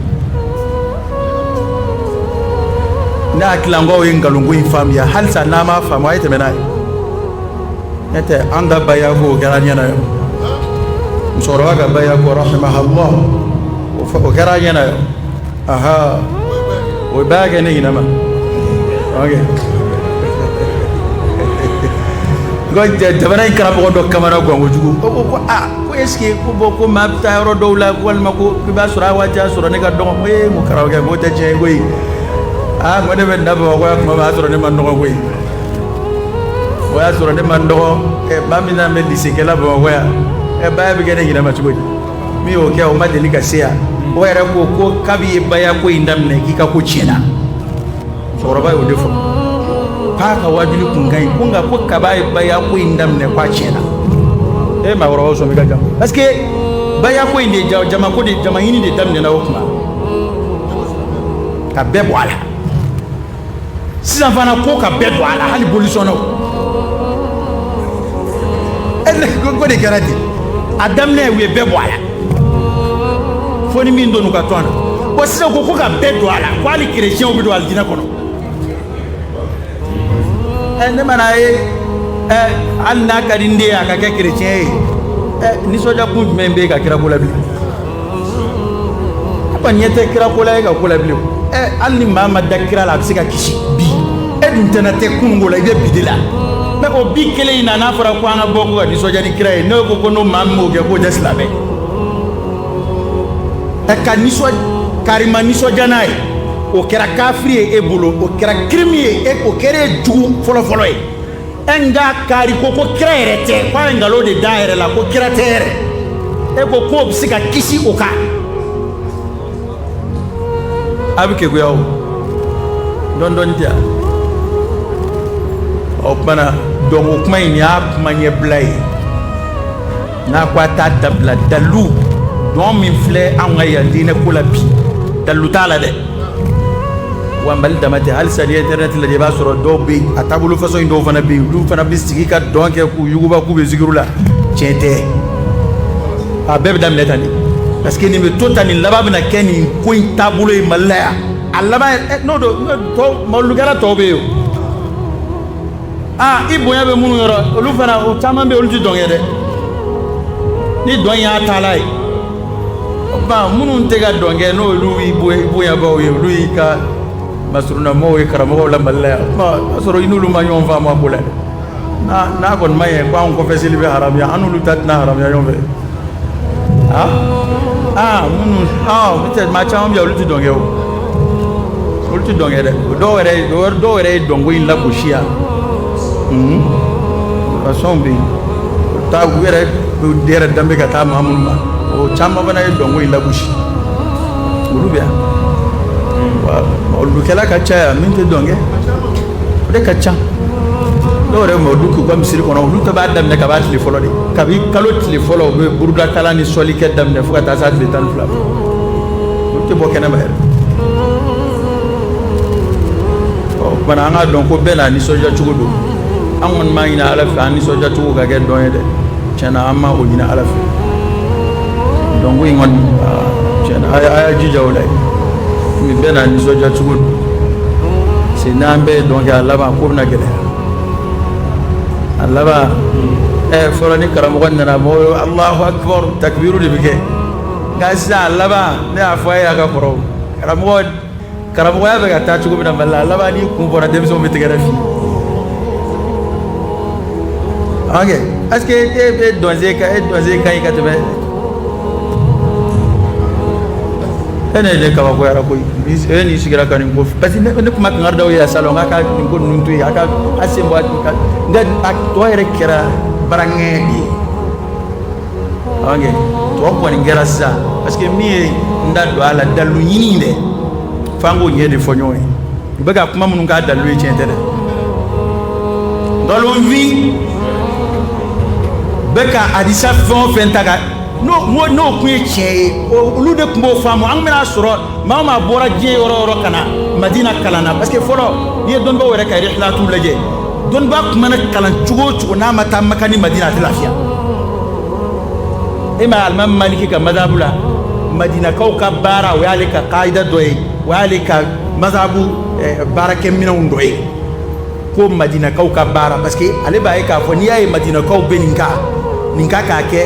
ne hakili la n k'aw ye nkalonko in faamuya halisa n'aw m'a faamu a ye tɛmɛ n'a ye ne tɛ an ka baya ko o kɛra ɲɛna ye musokɔrɔba ka baya ko rahimahallah o kɛra ɲɛna ye aa o baya kɛ ne ɲinɛ ma jamana in karamɔgɔ dɔ kamana gan kojugu ko ko aa ko est-ce que ko bon ko maa bɛ taa yɔrɔ dɔw la walima ko i b'a sɔrɔ a waati y'a sɔrɔ ne ka dɔgɔn ko e mun karamɔgɔkɛ k'o tɛ tiɲɛ ye koyi aa ko ne bɛ na bamakɔ tuma min o y'a sɔrɔ ne man dɔgɔ koyi o y'a sɔrɔ ne man dɔgɔ maa min nana bɛ lycée kɛ la bamakɔ yan ɛ baya bɛ kɛ ne ɲinɛ ma cogo di min y'o kɛ o ma deli ka se yan o yɛrɛ ko ko kabi ye baya ko in daminɛ k'i ka ko tiɲɛna cɛkɔrɔba y'o de fɔ k'a ka waajuli kun ka ɲi ko nka ko kaba ye baya ko in daminɛ k'a tiɲɛna e ye maakɔrɔbaw sɔmi ka jan parce que baya ko in de ja jama ko de jama ɲini de daminɛna o kuma ka bɛɛ bɔ a la sisan fana ko ka bɛɛ don a la hali bolisɔnnaw ko de kɛra ten a daminɛ u ye bɛɛ bɔ a la fo ni min donn'u ka tɔn na bon sisan ko ko ka bɛɛ don a la ko hali kerecɛnw bɛ don alijinɛ kɔnɔ ɛ ne mana ye ɛ hali n'a ka di n den ye a ka kɛ kerecɛn ye ɛ nisɔndiya kun jumɛn bɛ yen ka kira ko la bi kɔni ɲɛ tɛ kira ko la e ka ko la bilen ɛ hali ni maa ma da kira la a bɛ se ka kisi bi e dun tɛna tɛ kunun ko la i bɛ bi de la mais o bi kelen in na n'a fɔra ko an ka bɔ ko ka nisɔndiya ni kira ye n'e ko ko n'o maa min m'o kɛ k'o tɛ silamɛ ɛ ka nisɔn kari ma nisɔndiya n'a ye o kɛra kafiri ye e bolo o kɛra kirimi ye e o kɛra e jugu fɔlɔfɔlɔ ye e nka kari ko ko kira yɛrɛ tɛ ko a ye nkalon de da yɛrɛ la ko kira tɛ yɛrɛ e ko k'o bɛ se ka kisi o kan a bɛ keguya o dɔɔni dɔɔni tɛ o tumana dɔnko kuma in y'a kuma ɲɛbila ye n'a ko a t'a dabila dalu dɔn min filɛ anw ka yan diinɛ ko la bi dalu t'a la dɛ wa mali dama tɛ halisa ni internet lajɛ i b'a sɔrɔ dɔw bɛ yen a taabolo façon in dɔw fana bɛ yen olu fana bɛ sigi ka dɔn kɛ k'u yuguba k'u bɛ zikiru la tiɲɛ tɛ a bɛɛ bɛ daminɛ tan de parce que nin bɛ to tan nin laban bɛna kɛ nin ko in taabolo ye mali la yan a laban n'o don mawuludukɛla tɔw bɛ yen o aa i bonya bɛ minnu yɔrɔ olu fana o caman bɛ olu tɛ dɔn kɛ dɛ ni dɔn y'a taala ye ba minnu tɛ ka dɔn kɛ n'olu y'i bonyabaw ye olu y'i ka masurunamɔgɔw ye karamɔgɔw la mali la yan o y'a sɔrɔ i n'olu ma ɲɔgɔn faamu a ko la dɛ n'a kɔni ma ɲɛ ko anw kɔfɛ seli bɛ haramuya an n'olu ta tɛna haramuya ɲɔgɔn fɛ aa aa minnu aa maa caman bɛ yan olu tɛ dɔn kɛ o olu tɛ dɔn kɛ dɛ dɔw yɛrɛ dɔw yɛrɛ ye dɔnko in lagosi yan fasɔn bɛ yen taa u yɛrɛ yɛrɛ danbe bɛ ka taa maa minnu ma o caman fana ye dɔnko in lagosi olu bɛ yan olukɛla ka ca yan min tɛ dɔn kɛ o de ka ca dɔw yɛrɛ ma olu k'u ka misiri kɔnɔ olu ta bɛ daminɛ kab'a tile fɔlɔ de kabi kalo tile fɔlɔ u bɛ burudakalan ni sɔlikɛ daminɛ fo ka taa se tile tan ni fila tɛ bɔ kɛnɛma yɛrɛ bana an k'a dɔn ko bɛɛ n'a nisɔndiya cogo don an kɔni m'a ɲini ala fɛ an nisɔndiya cogo ka kɛ dɔn ye dɛ tiɲɛna an ma o ɲini ala fɛ dɔnko in kɔni tiɲɛna a y'a jija o la ye bɛɛ n'a nisɔndiya cogo don parce que n'an bɛɛ ye dɔn kɛ a laban ko bɛna gɛlɛya a laban ɛ fɔlɔ ni karamɔgɔ nana mɔgɔ alahu akibaru takibiriw de bɛ kɛ nka sisan a laban ne y'a fɔ a ye a ka kɔrɔ karamɔgɔ karamɔgɔya bɛ ka taa cogo min na mali la a laban n'i kun bɔra denmisɛnw bɛ tɛgɛrɛ f'i ok est-ce que e bɛ dɔnsen ka e dɔnsen ka ɲi ka tɛmɛ e ne de kabakoyara koyi e n'i sigira ka nin ko parce que ne ne tun ma kankari d'aw ye a salon k'a ka nin ko ninnu to yen a ka a sen bɔ a ka nka a tɔ yɛrɛ kɛra baraŋɛ de ye Ɔkɛ tɔ kɔni kɛra sisan parce que min ye n da don a la dalu ɲini dɛ f'an k'o ɲɛ de fɔ ɲɔgɔn ye u bɛ ka kuma minnu k'a dalu ye tiɲɛ tɛ dɛ nkalonfin bɛ ka hadisa fɛn o fɛn ta ka n'o n'o tun ye tiɲɛ ye olu de tun b'o faamu an bɛn'a sɔrɔ maa o maa bɔra diɲɛ yɔrɔ o yɔrɔ ka na madina kalan na parce que fɔlɔ n'i ye dɔnbaw yɛrɛ ka rihlatu lajɛ dɔnniba tun mana kalan cogo o cogo n'a ma taa maka ni madina a tɛ lafiya imam alimami maliki ka mazabu la madinakaw ka baara o y'ale ka kaida dɔ ye o y'ale ka mazabu eh, baarakɛminɛnw dɔ ye ko madinakaw ka baara parce que ale b'a ye k'a fɔ n'i y'a ye madinakaw bɛ nin ka nin ka k'a kɛ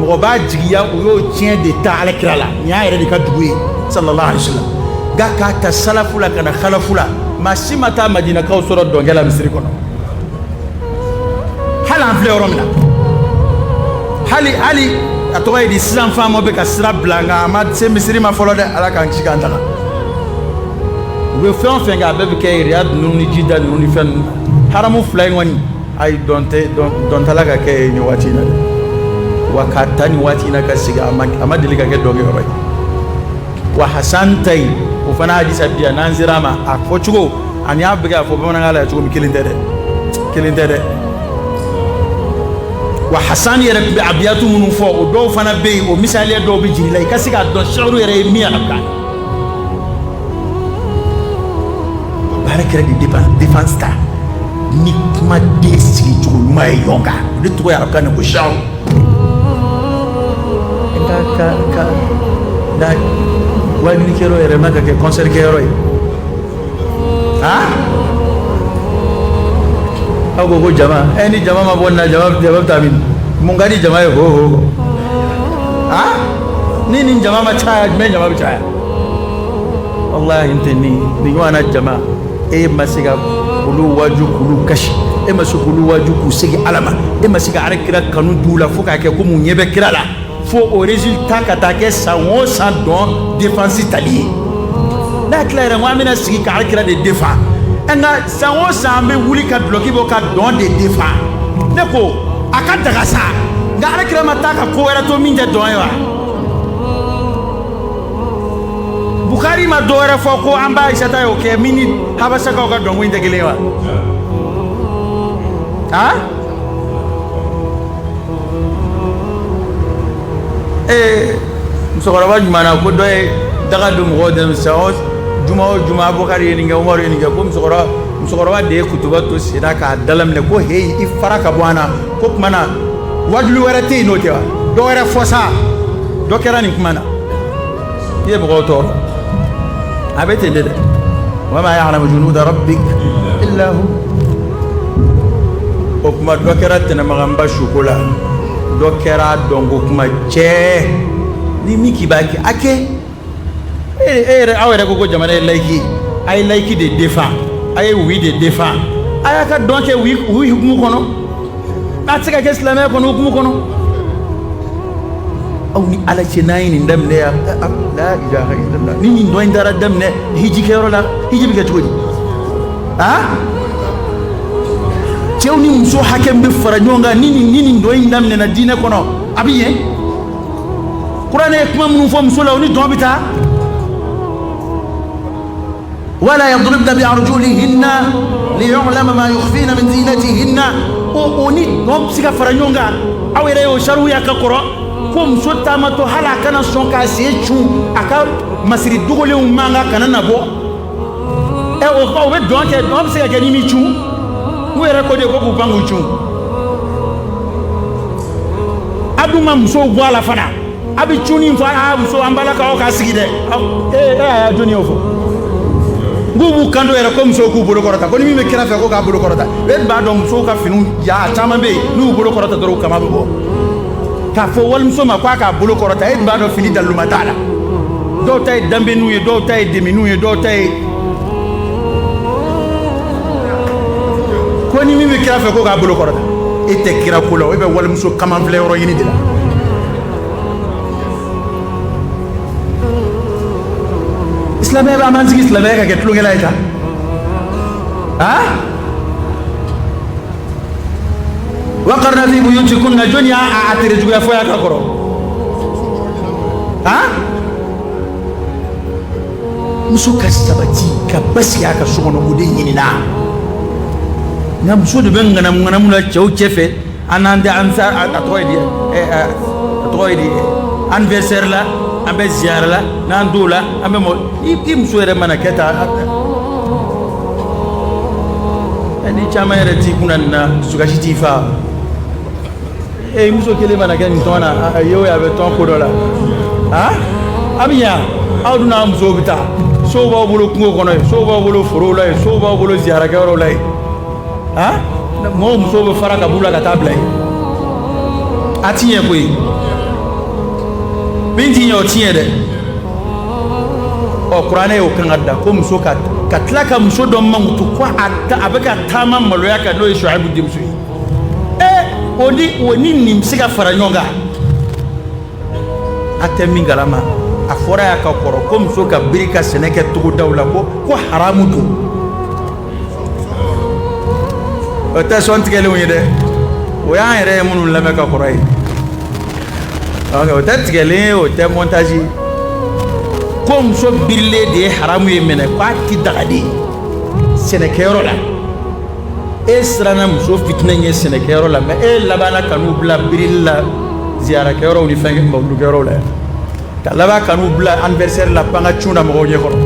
mɔgɔ b'a jigiya u y'o tiɲɛ de ta ala kira la nin y'a yɛrɛ de ka dugu ye sallallahu alaihi wa sallam nka k'a ta salafu la ka na khalafu la maa si ma taa madinakaw sɔrɔ dɔnkɛ la misiri kɔnɔ hali an filɛ yɔrɔ min na hali hali a tɔgɔ ye di sisan faama bɛ ka sira bila nka a ma se misiri ma fɔlɔ dɛ ala k'an kisi k'an tanga u bɛ fɛn o fɛn kɛ a bɛɛ bɛ kɛ riyadi ninnu ni jida ninnu ni fɛn ninnu haramu fila in kɔni ayi dɔn tɛ dɔn tɛla ka kɛ nin waati in na dɛ wa k'a ta nin waati in na ka sigi a ma deli ka kɛ dɔnkɛyɔrɔ ye wa hasan ta yen o fana hadisa bɛ yan n'an sera a ma a fɔ cogo ani a bɛ ka a fɔ bamanankan la cogo min kelen tɛ dɛ kelen tɛ dɛ wa hasan yɛrɛ bɛ abiyatu minnu fɔ o dɔw fana bɛ yen o misaliya dɔw bɛ jigin i la i ka se k'a dɔn sɛru yɛrɛ ye min ye arabukan b'ala kira de défense défense ta ni kuma den sigi cogo ɲuman ye ɲɔgɔn kan o de tɔgɔ ye arabukan na ko sɛru wajuli kɛ yɔrɔ yɛrɛ ma ka kɛ kɔnsɛri kɛ yɔrɔ ye aw ko ko jama ɛ ni jama ma bɔ nin na jama jama bɛ taa min mun ka di jama ye ho ho ho ni nin jama ma caya jumɛn jama bɛ caya wallahi n tɛ nin nin ɲɔgɔnna jama e ma se ka olu waju k'olu kasi e ma se k'olu waju k'u segin ala ma e ma se ka ala kira kanu d'u la fo k'a kɛ ko mun ɲɛ bɛ kira la fo o résultat ka taa kɛ san o san dɔn défense tali ye n'a tila yɛrɛ ko an bɛna sigi ka ala kira de défend e nka san o san an bɛ wuli ka dulɔki bɔ ka dɔn de défend ne ko a ka daga sa nka ala kira ma taa ka ko wɛrɛ to min tɛ dɔn ye wa Bukari ma dɔwɛrɛ fɔ ko an ba Ayisata y'o kɛ min ni habasakaw ka dɔnko in tɛ kelen ye wa? Han? Ee musokɔrɔba juma na ko dɔ ye daga don mɔgɔw da san o juma o juma Bukari ye nin kɛ Umaru ye nin kɛ ko musokɔrɔba musokɔrɔba de ye kutuba to senna k'a dalaminɛ ko heyi i fara ka bɔ an na ko kuma na wajuli wɛrɛ tɛ yen n'o tɛ wa dɔ wɛrɛ fɔ sa dɔ kɛra nin kuma na i ye mɔgɔw tɔɔrɔ a bɛ ten de dɛ wa ma ya'lamu junuda rabbik illa hu o kuma dɔ kɛra tɛnɛmakan ba suko la dɔ kɛra dɔnko kuma cɛ ni min k'i b'a kɛ a kɛ e yɛrɛ aw yɛrɛ ko ko jamana ye layiki ye a ye layiki de défend a ye oui de défend a y'a ka dɔn kɛ oui oui hukumu kɔnɔ a tɛ se ka kɛ silamɛya kɔnɔ hukumu kɔnɔ aw ni ala cɛ n'a ye nin daminɛ yan la ilaha illallah ni nin dɔn in taara daminɛ hiji kɛyɔrɔ la hiji bɛ kɛ cogo di aa cɛw ni muso hakɛ min bɛ fara ɲɔgɔn kan ni nin ni nin dɔn in daminɛna diinɛ kɔnɔ a bɛ ɲɛ kuranɛ ye kuma minnu fɔ muso la o ni dɔn bɛ taa wala yadribna bi arjulihinna liyu'lama ma yukhfina min zinatihinna o o ni dɔn bɛ se ka fara ɲɔgɔn kan aw yɛrɛ y'o sarahuya k'a kɔrɔ ko muso taamatɔ hali a kana sɔn k'a sen cun a ka masiri dogolenw mankan kana na bɔ ɛ o kuma u bɛ dɔn kɛ dɔn bɛ se ka kɛ n'i m'i cun u yɛrɛ ko de ko k'u pan k'u cun a dun ma musow bɔ a la fana a bɛ cun ni fɔ a muso an balakaw ka sigi dɛ ee e y'a jɔnni y'o fɔ k'u b'u kanto yɛrɛ ko musow k'u bolo kɔrɔta ko ni min bɛ kira fɛ ko k'a bolo kɔrɔta e b'a dɔn musow ka finiw ja caman bɛ yen n'u bolo kɔrɔta dɔrɔn u kaman bɛ bɔ k'a fɔ walimuso ma k'a k'a bolo kɔrɔta e b'a dɔn fini daluma t'a la dɔw ta ye danbeniw ye dɔw ta ye deminiw ye dɔw ta ye ko ni min bɛ kira fɛ ko k'a bolo kɔrɔta e tɛ kira ko la e bɛ walimuso kaman filɛyɔrɔ ɲini de la silamɛya bɛ an b'an sigi silamɛya ka kɛ tulonkɛlan ye tan aa wa karna fi buyutikunna jɔni y'a a tere juguya fɔ yan ka kɔrɔ han muso ka sabati ka basigi a ka so kɔnɔ o de ɲinina nka muso de bɛ ŋanamu ŋanamu la cɛw cɛ fɛ an n'an tɛ an sa a tɔgɔ ye di ɛ a tɔgɔ ye di anniversaire la an bɛ ziyara la n'an t'o la an bɛ mɔ i i muso yɛrɛ mana kɛ tan ni caman yɛrɛ t'i kunna nin na dusukasi t'i faa e muso kelen mana kɛ nin tɔn na a ye o ye a bɛ tɔn ko dɔ la a a bɛ yan aw dun n'a musow bɛ taa sow b'aw bolo kungo kɔnɔ yen sow b'aw bolo forow la yen sow b'aw bolo ziyarakɛyɔrɔw la yen a mɔgɔw musow bɛ fara ka b'u la ka taa bila yen a ti ɲɛ koyi min ti ɲɛ o ti ɲɛ dɛ ɔ kuranɛ y'o kan ka da ko muso ka ka tila ka muso dɔ mankutu ko a a bɛ ka taama maloya kan n'o ye shuayibu denmuso ye ee o ni o ni nin bɛ se ka fara ɲɔgɔn kan a tɛ min kalama a fɔra yan ka kɔrɔ ko muso ka biri ka sɛnɛ kɛ togodaw la ko ko haramu don o tɛ sɔn tigɛlenw ye dɛ o y'an yɛrɛ ye minnu lamɛn ka kɔrɔ ye o tɛ tigɛlen ye o tɛ mɔntaji ye ko muso birilen de ye haramu ye minɛ k'a ti daga de sɛnɛkɛyɔrɔ la e siranna muso fitinɛ ɲɛ sɛnɛkɛyɔrɔ la mɛ e labanna ka n'u bila birili la ziyarakɛyɔrɔw ni fɛn mawuludukɛyɔrɔw la ka laban ka n'u bila anniversaire la pan ka cun na mɔgɔw ɲɛ kɔrɔ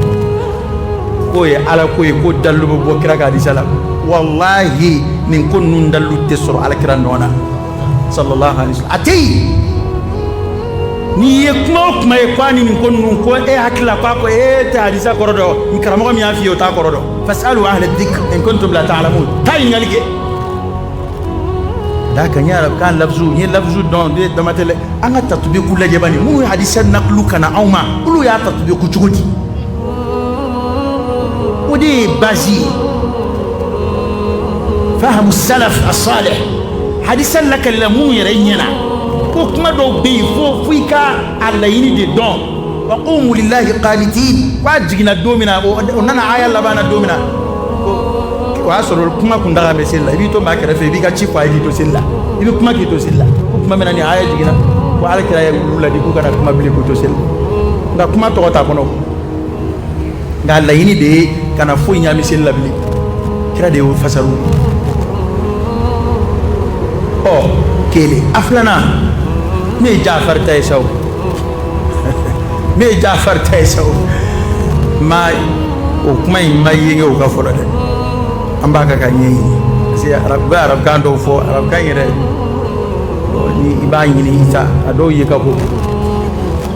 k'o ye ala ko ye ko dalilu bɛ bɔ kira ka hadisa la walahi nin ko ninnu dalilu tɛ sɔrɔ alakira nɔ na sallallahu alaihi wasallam a tɛ yen n'i ye kuma o kuma ye k'a ni nin ko ninnu ko e hakili la k'a ko e tɛ hadisa kɔrɔ dɔn ni karamɔgɔ min y'a f'i ye o t'a kɔrɔ dɔn fasalu ahla dhikr in kuntum la ta'lamun taa ɲininkali kɛ Da kan ye arabukan lafuzu n ye lafuzu dɔn de dama tɛ an ka tatubiku lajɛ bani minnu ye hadisa nakulu ka na anw ma olu y'a tatubiku cogo di o de ye base ye fahamu salaf as-salih hadisa lakalila minnu yɛrɛ ɲɛ na ko kuma dɔw bɛ yen fo i ka a laɲini de dɔn wa qumu lillahi qanitin k'a jiginna don min na o nana aya laban na don min na o y'a sɔrɔ kuma kun daga bɛ seli la i b'i to maa kɛrɛfɛ i b'i ka ci fɔ a ye k'i to seli la i bɛ kuma k'i to seli la ko kuma min na nin aya jiginna ko ala kira ye olu laadi k'u kana kuma bilen k'u to seli nka kuma tɔgɔ t'a kɔnɔ nka laɲini de ye kana foyi ɲaami seli la bilen kira de y'o fasaru ɔ kelen a filanan min ye jafari ta ye sa o min ye jafari ta ye sa o maa o kuma in ma yenge o ka fɔlɔ dɛ an b'a kan k'a ɲɛɲini parce que arabu bɛ arabukan dɔw fɔ arabukan yɛrɛ ni i b'a ɲini i t'a dɔw ye ka ko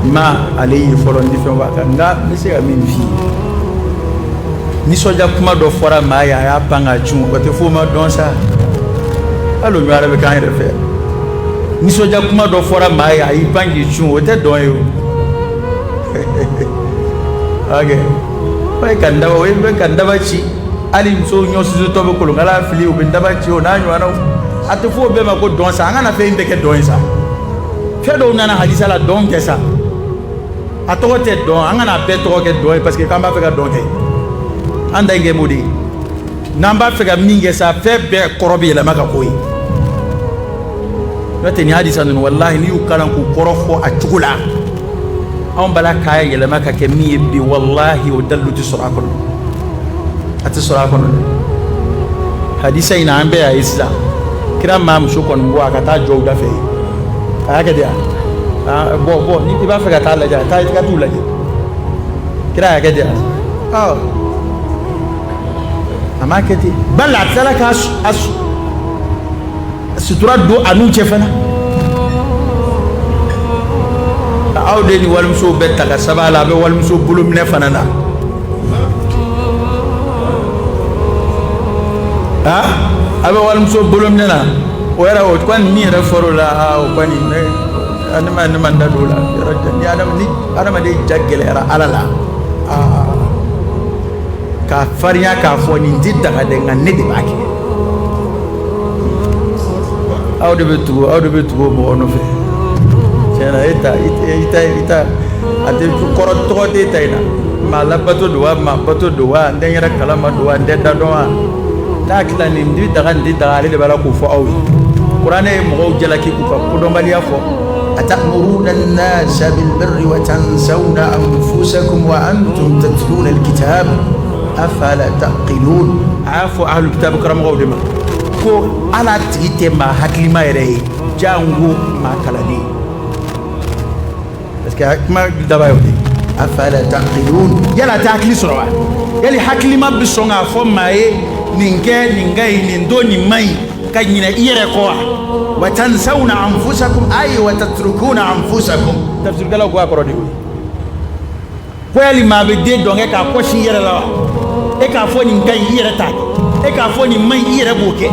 n ma ale ye fɔlɔ ni fɛn b'a kan nka n bɛ se ka min f'i ye nisɔndiya kuma dɔ fɔra maa ye a y'a pan k'a cun o tɛ f'o ma dɔn sa hali o ɲɔgɔn bɛ k'an yɛrɛ fɛ nisɔndiya kuma dɔ fɔra maa ye a y'i pan k'i cun o tɛ dɔn ye o Daba ci hali muso ɲɔsusutɔ bɛ kolonkala fili o bɛ daba ci o n'a ɲɔgɔn a tɛ f'o bɛɛ ma ko dɔn sa an kana fɛn in bɛɛ kɛ dɔn ye sa fɛn dɔw nana hadisa la dɔn kɛ sa a tɔgɔ tɛ dɔn an kana bɛɛ tɔgɔ kɛ dɔn ye parce que k'an b'a fɛ ka dɔn kɛ an da kɛ mun de ye n'an b'a fɛ ka min kɛ sa fɛn bɛɛ kɔrɔ bɛ yɛlɛma ka k'o ye n'o tɛ nin hadisa ninnu walahi n'i y'u kalan k'u kɔrɔ fɔ a cogo la anw b'a la k'a yɛlɛma ka kɛ min ye bi walahi o dalilu tɛ sɔrɔ a kɔnɔ a tɛ sɔrɔ a kɔnɔ dɛ hadisa in na an bɛɛ y'a ye sisan kira ma muso kɔni bɔ a ka taa jɔ u dafɛ yen a y'a kɛ de a bɔ bɔ ni i b'a fɛ ka taa lajɛ a taa i ka t'u lajɛ kira y'a kɛ de a a ma kɛ ten bali a tilala ka sutura don a n'u cɛ fana aw de ni walimuso bɛ taa ka saba la a bɛ walimuso bolo minɛ fana na aa a bɛ walimuso bolo minɛ na o yɛrɛ o kɔni min yɛrɛ fɔra o la aa o kɔni ne adama ne ma n da don o la ni adamaden ja gɛlɛyara ala la aa ka farinya k'a fɔ nin tɛ daga dɛ nka ne de b'a kɛ aw de bɛ tugu aw de bɛ tugu mɔgɔ nɔfɛ tiɲɛ na e ta i ta i ta a tɛ kɔrɔ tɔgɔ tɛ e ta in na maa labato don wa maa bato don wa n tɛ n yɛrɛ kalama don wa n tɛ da dɔn wa n'a tila nin tɛ daga nin tɛ daga ale de b'a la k'o fɔ aw ye kuranɛ ye mɔgɔw jalaki k'u ka kodɔnbaliya fɔ atamuruna nasa bil birri wa tansawna anfusakum wa antum tatluna al-kitab afala taqilun a y'a fɔ ahlul kitabi karamɔgɔw de ma ko ala tigi tɛ maa hakilima yɛrɛ ye janko maa kalanden parce que kuma daba ye o de ye afala taqilun yala a tɛ hakili sɔrɔ wa yali hakilima bɛ sɔn k'a fɔ maa ye nin kɛ nin ka ɲi nin to nin man ɲi ka ɲinɛ i yɛrɛ kɔ wa wa tansawna anfusakum ayi wa tatrukuna anfusakum tafsirikɛlaw ko a kɔrɔ de y'o ye ko yali maa bɛ den dɔnkɛ k'a kɔ sin i yɛrɛ la wa e k'a fɔ nin ka ɲi i yɛrɛ t'a kɛ e k'a fɔ nin man ɲi i yɛrɛ b'o kɛ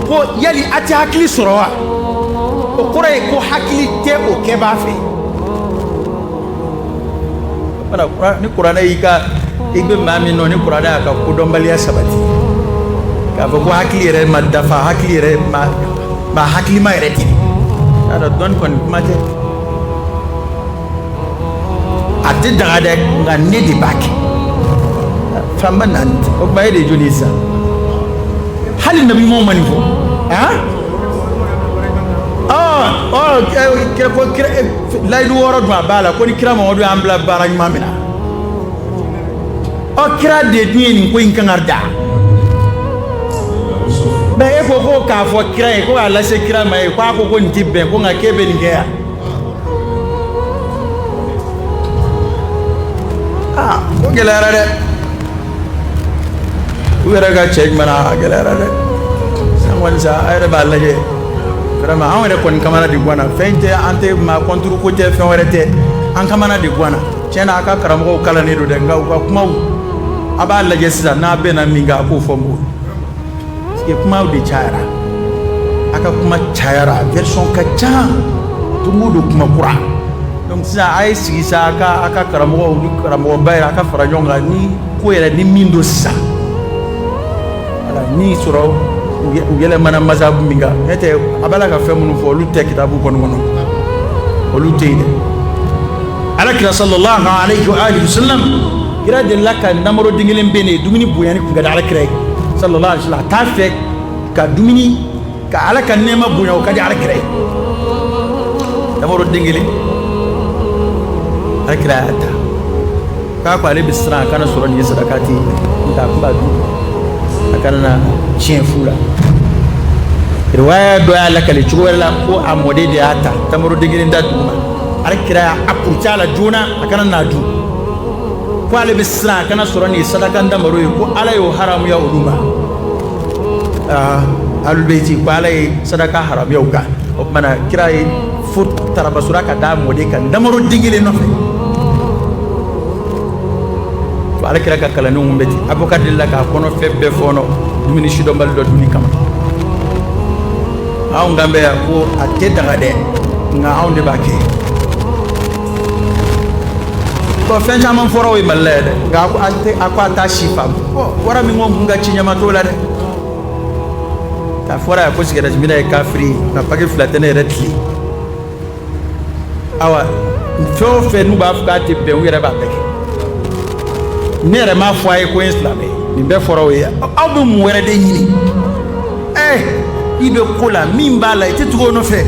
ko yali a tɛ hakili sɔrɔ wa o kɔrɔ ye ko hakili tɛ o kɛbaa fɛ ni kuranɛ y'i ka i bɛ maa min nɔ ni kuranɛ y'a ka kodɔnbaliya sabati k'a fɔ ko hakili yɛrɛ ma dafa hakili yɛrɛ ma maa hakilima yɛrɛ tɛ k'a dɔn dɔnni kɔni kuma tɛ a tɛ daga dɛ nka ne de b'a kɛ fanba naani tɛ o tuma e de ye jɔn ye sisan hali nabi ɲumanw ma nin fɔ han ɔ ɔ kira ko kira layidu wɔɔrɔ dun a b'a la ko ni kira mamadu y'an bila baara ɲuman min na ɔ kira de dun ye nin ko in kan ka da mɛ e ko ko k'a fɔ kira ye ko k'a lase kira ma ye ko a ko ko nin ti bɛn ko nka k'e bɛ nin kɛ yan aa ko gɛlɛyara dɛ u yɛrɛ ka cɛ jumɛn a gɛlɛyara dɛ san kɔni sa a yɛrɛ b'a lajɛ vraiment anw yɛrɛ kɔni kamana de gwanna fɛn tɛ an tɛ maa contre ko tɛ fɛn wɛrɛ tɛ an kamana de gwanna tiɲɛ na a ka karamɔgɔw kalannen don dɛ nka u ka kumaw a b'a lajɛ sisan n'a bɛnna min kan a k'o fɔ mɔgɔw parce que kumaw de cayara a ka kuma cayara version ka ca don o don kuma kura Donc sisan a ye sigi sa a ka a ka karamɔgɔ ni karamɔgɔba yɛrɛ a ka fara ɲɔgɔn kan ni ko yɛrɛ ni min don sisan voilà ni sɔrɔ u yɛlɛmana mazhabu min kan ne tɛ a b'a la ka fɛn minnu fɔ olu tɛ kitabu kɔni kɔnɔ olu tɛ yen dɛ alakira sallallahu alayhi wa alihi wa sallam kira delila ka ntamaro den kelen minɛ dumuni bonyani kun ka di alakira ye sallallahu alayhi wa sallam a t'a fɛ ka dumuni ka ala ka nɛɛma bonya o ka di ala kira ye tamaro den kelen ala kira y'a ta k'a ko ale bɛ siran a kana sɔrɔ nin ye sadaka ta ye ntɛ a tun b'a dun a kana na tiɲɛ fu la riwaya dɔ y'a lakale cogo wɛrɛ la ko a mɔden de y'a ta tamaro den kelen ta duguma ala kira y'a purut'a la joona a kana n'a dun ko ale bɛ siran a kana sɔrɔ nin ye sadaka tamaro ye ko ala y'o haramuya olu ma aa alubeyiti ko ala ye sadaka haramuya u kan o tuma na kira ye fo tarabasura ka da mɔden kan tamaro den kelen nɔfɛ fo ala kira ka kalandenw tun bɛ ten abubakar delila k'a kɔnɔ fɛn bɛɛ fɔɔnɔ dumuni sidɔnbali dɔ dunni kama anw kan bɛ yan ko a tɛ daga dɛ nka anw de b'a kɛ bon fɛn caman fɔra o ye mali la yan dɛ nka a ko a t'a si faamu wara min ko n kun ka ci ɲama t'o la dɛ k'a fɔra yan ko sigɛrɛti minna ye kafiri ye nka paki fila tɛ ne yɛrɛ tile awa fɛn o fɛn n'u b'a fɔ k'a tɛ bɛn u yɛrɛ b'a bɛɛ kɛ ne yɛrɛ m'a fɔ a ye ko n ye silamɛ ye nin bɛɛ fɔra o ye aw bɛ mun wɛrɛ de ɲini ɛ i bɛ ko la min b'a la i tɛ tugu o nɔfɛ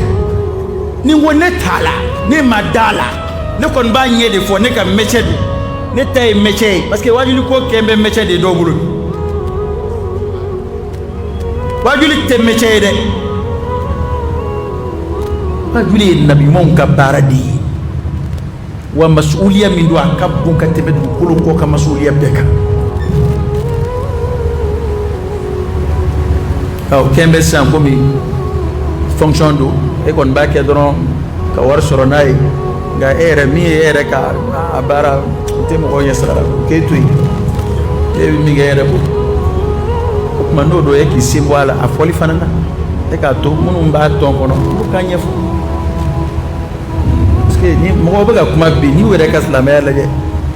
n'i ko ne t'a la ne ma d'a la ne kɔni b'a ɲɛ de fɔ ne ka métier don ne ta ye métier ye parce que wajuli ko kɛn bɛ métier de dɔw bolo wajuli tɛ métier ye dɛ wajuli ye nabiɲumanw ka baara de ye wa masuliya min don a ka bon ka tɛmɛ dugukolo kɔ ka masuliya bɛɛ kan o kɛn bɛ sisan komi fonction don e kɔni b'a kɛ dɔrɔn ka wari sɔrɔ n'a ye nka e yɛrɛ min ye e yɛrɛ ka a baara o tɛ mɔgɔw ɲɛ sira la k'e to yen e bɛ min kɛ e yɛrɛ bolo o tuma n'o don e k'i sen bɔ a la a fɔli fana na e k'a to minnu b'a tɔn kɔnɔ olu k'a ɲɛfɔ ni mɔgɔw bɛ ka kuma bi n'i yɛrɛ ka silamɛya lajɛ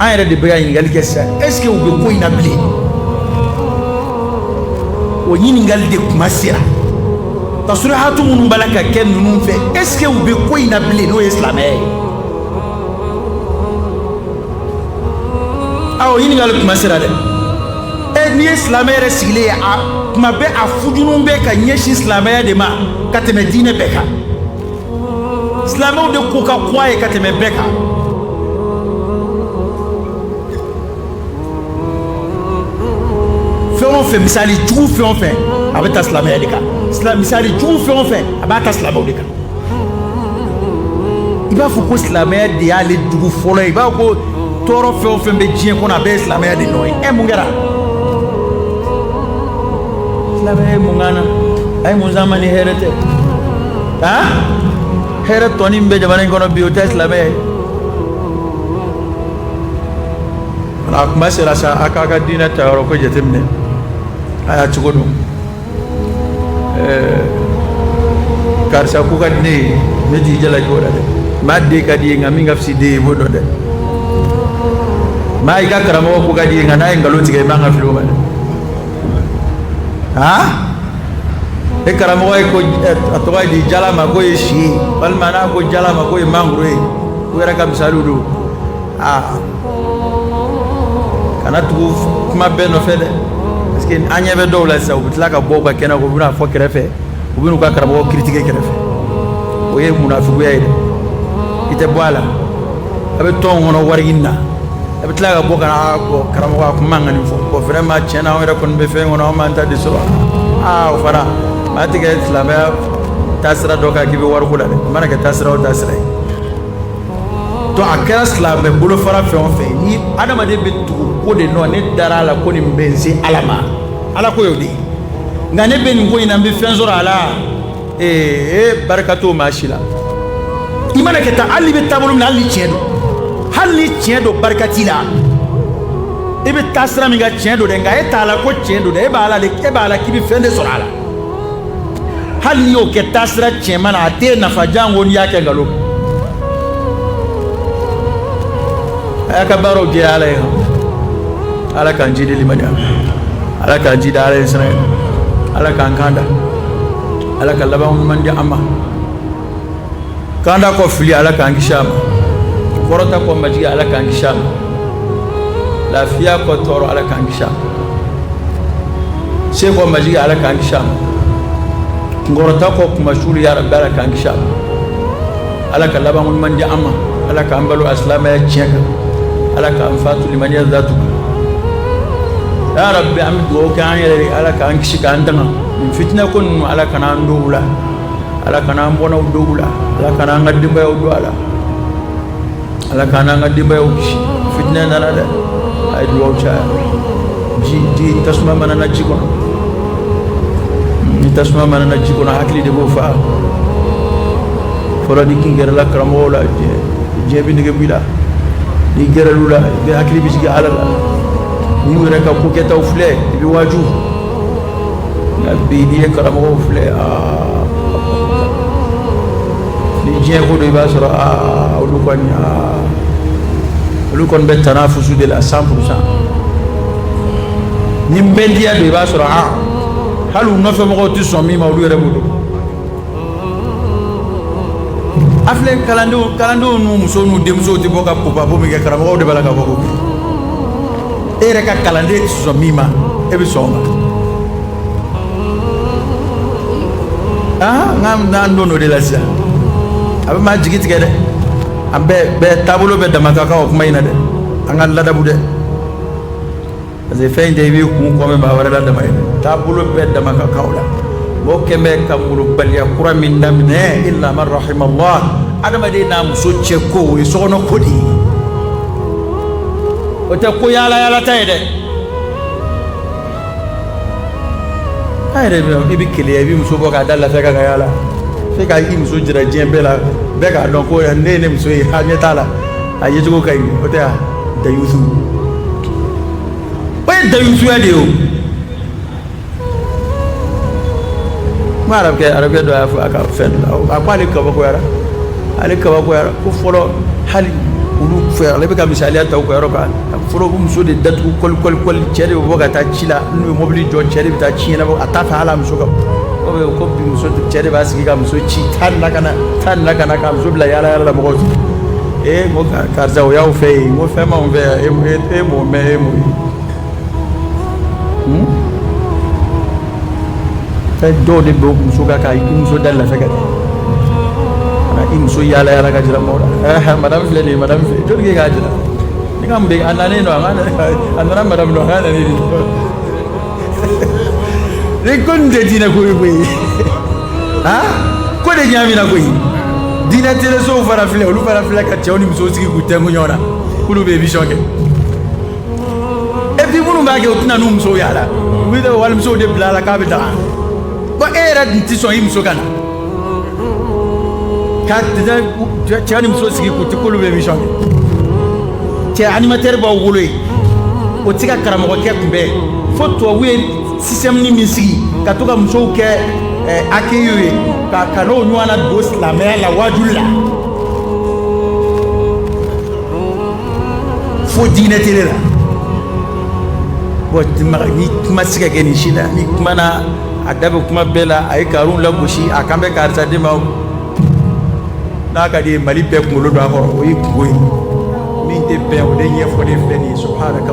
an yɛrɛ de bɛ ka ɲininkali kɛ sisan est-ce que u bɛ ko in na bilen o ɲininkali de tuma sera tasurihatu minnu b'a la ka kɛ ninnu fɛ est-ce que u bɛ ko in na bilen n'o ye silamɛya ye a o ɲininkali tuma sera dɛ e n'i ye silamɛ yɛrɛ sigilen ye a tuma bɛɛ a hujumu bɛ ka ɲɛsin silamɛya de ma ka tɛmɛ diinɛ bɛɛ kan silamɛw de ko ka go a ye ka tɛmɛ bɛɛ kan fɛn o fɛn misali jugu fɛn o fɛn a bɛ ta silamɛya de kan misali jugu fɛn o fɛn a b'a ta silamɛw de kan i b'a fɔ ko silamɛya de y'ale jugu fɔlɔ ye i b'a fɔ ko tɔɔrɔ fɛn o fɛn bɛ diɲɛ kɔnɔ a bɛɛ ye silamɛya de nɔ ye ɛ mun kɛra silamɛya ye mun k'an na a ye mun s'an ma ni hɛrɛ tɛ hɛrɛ tɔnin min bɛ jamana in kɔnɔ bi o tɛ silamɛya ye a tuma sera sa a k'a ka diinɛ ta yɔrɔ ko jateminɛ a y'a cogo dɔn karisa ko ka di ne ye ne t'i jalaki o la dɛ maa den ka di ye nka min ka fisi den ye i b'o dɔn dɛ maa i ka karamɔgɔ ko ka di ye nka n'a ye nkalon tigɛ i man ka fili o ma dɛ e karamɔgɔ ye ko a tɔgɔ ye di jala ma ko ye si ye walima n'a ko jala ma ko ye mangoro ye u yɛrɛ ka misaliw don aa kana tugu kuma bɛɛ nɔfɛ dɛ parce que an ɲɛ bɛ dɔw la sisan u bɛ tila ka bɔ u ka kɛnɛ ko u bɛn'a fɔ kɛrɛfɛ u bɛn'u ka karamɔgɔ critiquer kɛrɛfɛ o ye munafuguya ye dɛ i tɛ bɔ a la a bɛ tɔn kɔnɔ wari ɲini na a bɛ tila ka bɔ ka n'a fɔ karamɔgɔ tun man kan nin fɔ bon vraiment tiɲɛ na anw yɛrɛ kɔni bɛ fɛn kɔnɔ anw m'an ta de sɔrɔ aa o fana maa tɛ kɛ silamɛya taa sira dɔ kan k'i bɛ wari ko la dɛ a mana kɛ taa sira o taa sira ye donc a kɛra silamɛ bolofara fɛn o fɛn ni adamaden bɛ tugu ko de nɔ ne dara a la ko nin bɛ n se ala ma ala ko y'o de ye nka ne bɛ nin ko in na n bɛ fɛn sɔrɔ a la ee barika t'o maa si la i mana kɛ taa hali i bɛ taabolo min na hali ni tiɲɛ don hali ni tiɲɛ don barika t'i la i bɛ taa sira min kan tiɲɛ don dɛ nka e t'a la ko tiɲɛ don dɛ e b'a la k'i bɛ fɛn de sɔrɔ a la hali n'i y'o kɛ taa sira tiɲɛma na a t'e nafa janko n'i y'a kɛ nkalon a y'a ka baaraw jɛ ala ye ala k'an jidi limaniya ala k'an jidi ala ɲɛsiranɲɛ ala k'an kan da ala ka laban ɲuman di an ma kanda kɔ fili ala k'an kisi a ma kɔrɔta kɔ majigi ala k'an kisi a ma lafiya kɔ tɔɔrɔ ala k'an kisi a ma se kɔ majigi ala k'an kisi a ma kɔrɔta kɔ kunmasuuli ya rabbi ala k'an kisi a ma ala ka laban ɲuman di an ma ala k'an balo asilamaya tiɲɛ kan ala k'an faatu limaniya jaati kan ya rabbi an bɛ dugawu kɛ an yɛrɛ ye ala k'an kisi k'an tanga nin fitinɛ ko ninnu ala kana an don u la ala kana an bɔnnaw don u la ala kana an ka denbayaw don a la ala kana an ka denbayaw kisi fitinɛ nana dɛ a ye dugawu caya ji ji tasuma mana na ji kɔnɔ ni tasuma mana na ji kɔnɔ hakili de b'o faa fɔlɔ n'i tun gɛrɛla karamɔgɔw la diɲɛ bɛ nege b'i la n'i gɛrɛl'u la i bɛ hakili bɛ sigi ala la n'i y'u yɛrɛ ka ko kɛtaw filɛ i bɛ waaju nka bi n'i ye karamɔgɔw filɛ aa ni diɲɛ ko don i b'a sɔrɔ aa olu kɔni aa olu kɔni bɛ tanafusu de la cent pour cent ni bɛndiya don i b'a sɔrɔ aa hali u nɔfɛmɔgɔw tɛ sɔn min ma olu yɛrɛ b'o dɔn A filɛ kalandenw n'u musow n'u denmusow tɛ bɔ ka ko babo min kɛ karamɔgɔ de b'a la ka bɔ k'o kɛ e yɛrɛ ka kalanden tɛ sɔn min ma e bɛ sɔn o ma aa nka an nana don o de la sisan a bɛ maa jigi tigɛ dɛ an bɛɛ bɛɛ taabolo bɛɛ dama ka kan o kuma in na dɛ an ka ladabu dɛ parce que fɛn in tɛ i b'i kun kɔmɛ maa wɛrɛ la dama ye taabolo bɛɛ dama ka kan o la o kɛn bɛ ka molobaliya kura min daminɛ illa man rahimallah adamaden n'a muso cɛ ko o ye sokɔnɔ ko de ye o tɛ ko yaala yaala ta ye dɛ a yɛrɛ bɛ i bɛ keleya i bɛ muso bɔ k'a da lafɛ ka ka yaala i fɛ ka i muso jira diɲɛ bɛɛ la bɛɛ k'a dɔn ko nin ye ne muso ye ha ɲɛ t'a la a ye cogo ka ɲi o tɛ yan dayusu o ye dayusuya de ye o kuma arabukɛ arabukɛ dɔ y'a fɔ a ka fɛn dɔ la a ko ale kabakoyara ale kabakoyara ko fɔlɔ hali olu fɛ ale bɛ ka misaliya ta u ka yɔrɔ kan fɔlɔ u b'u muso de datugu kɔli kɔli kɔli cɛ de bɛ bɔ ka taa ci la n'u ye mɔbili jɔ cɛ de bɛ taa ci ɲɛnabɔ a t'a fɛ hali a muso ka o bɛ ko bi muso cɛ de b'a sigi ka muso ci taa nin na ka na taa nin na ka na ka muso bila yaala yaala la mɔgɔw ee n ko karisa o y'aw fɛ yen n ko fɛn b'anw fɛ yan e e m'o mɛn e m'o ye fɛn dɔw de b'u muso ka ka i muso da lafɛ ka di ka i muso yaala yaala ka jira mɔgɔ la ɛɛ madame filɛ nin ye madame filɛ jɔn k'e k'a jira ne ka mun bɛ a nana e dɔn wa a nana madame dɔn a ka na ne de dɔn ko nin tɛ diinɛ ko ye koyi han ko de ɲagamina koyi diinɛ telesow fana filɛ olu fana filɛ ka cɛw ni musow sigi k'u tɛnku ɲɔgɔn na k'olu bɛ émission kɛ et puis minnu b'a kɛ u tɛ na n'u musow y'a la u bɛ taa walimusow de bila a la k'a bɛ daga bon e yɛrɛ dun tɛ sɔn i muso ka na ka cɛ ni muso sigi k'u tɛ k'olu bɛ émission kɛ cɛ animateur b'aw bolo yen o tɛ se ka karamɔgɔkɛ kunbɛn fo tubabu ye système min sigi ka to ka musow kɛ accueilw ye ka ka n'o ɲɔgɔnna don silamɛya la waajuli la fo diinɛ tele la bon ni kuma tɛ se ka kɛ nin si la ni kumana a da bɛ kuma bɛɛ la a ye karun lagosi a kan bɛ karisa de ma n'a ka di ye mali bɛɛ kunkolo don a kɔrɔ o ye kunko ye min tɛ bɛn o de ɲɛfɔlen filɛ nin ye subhanaka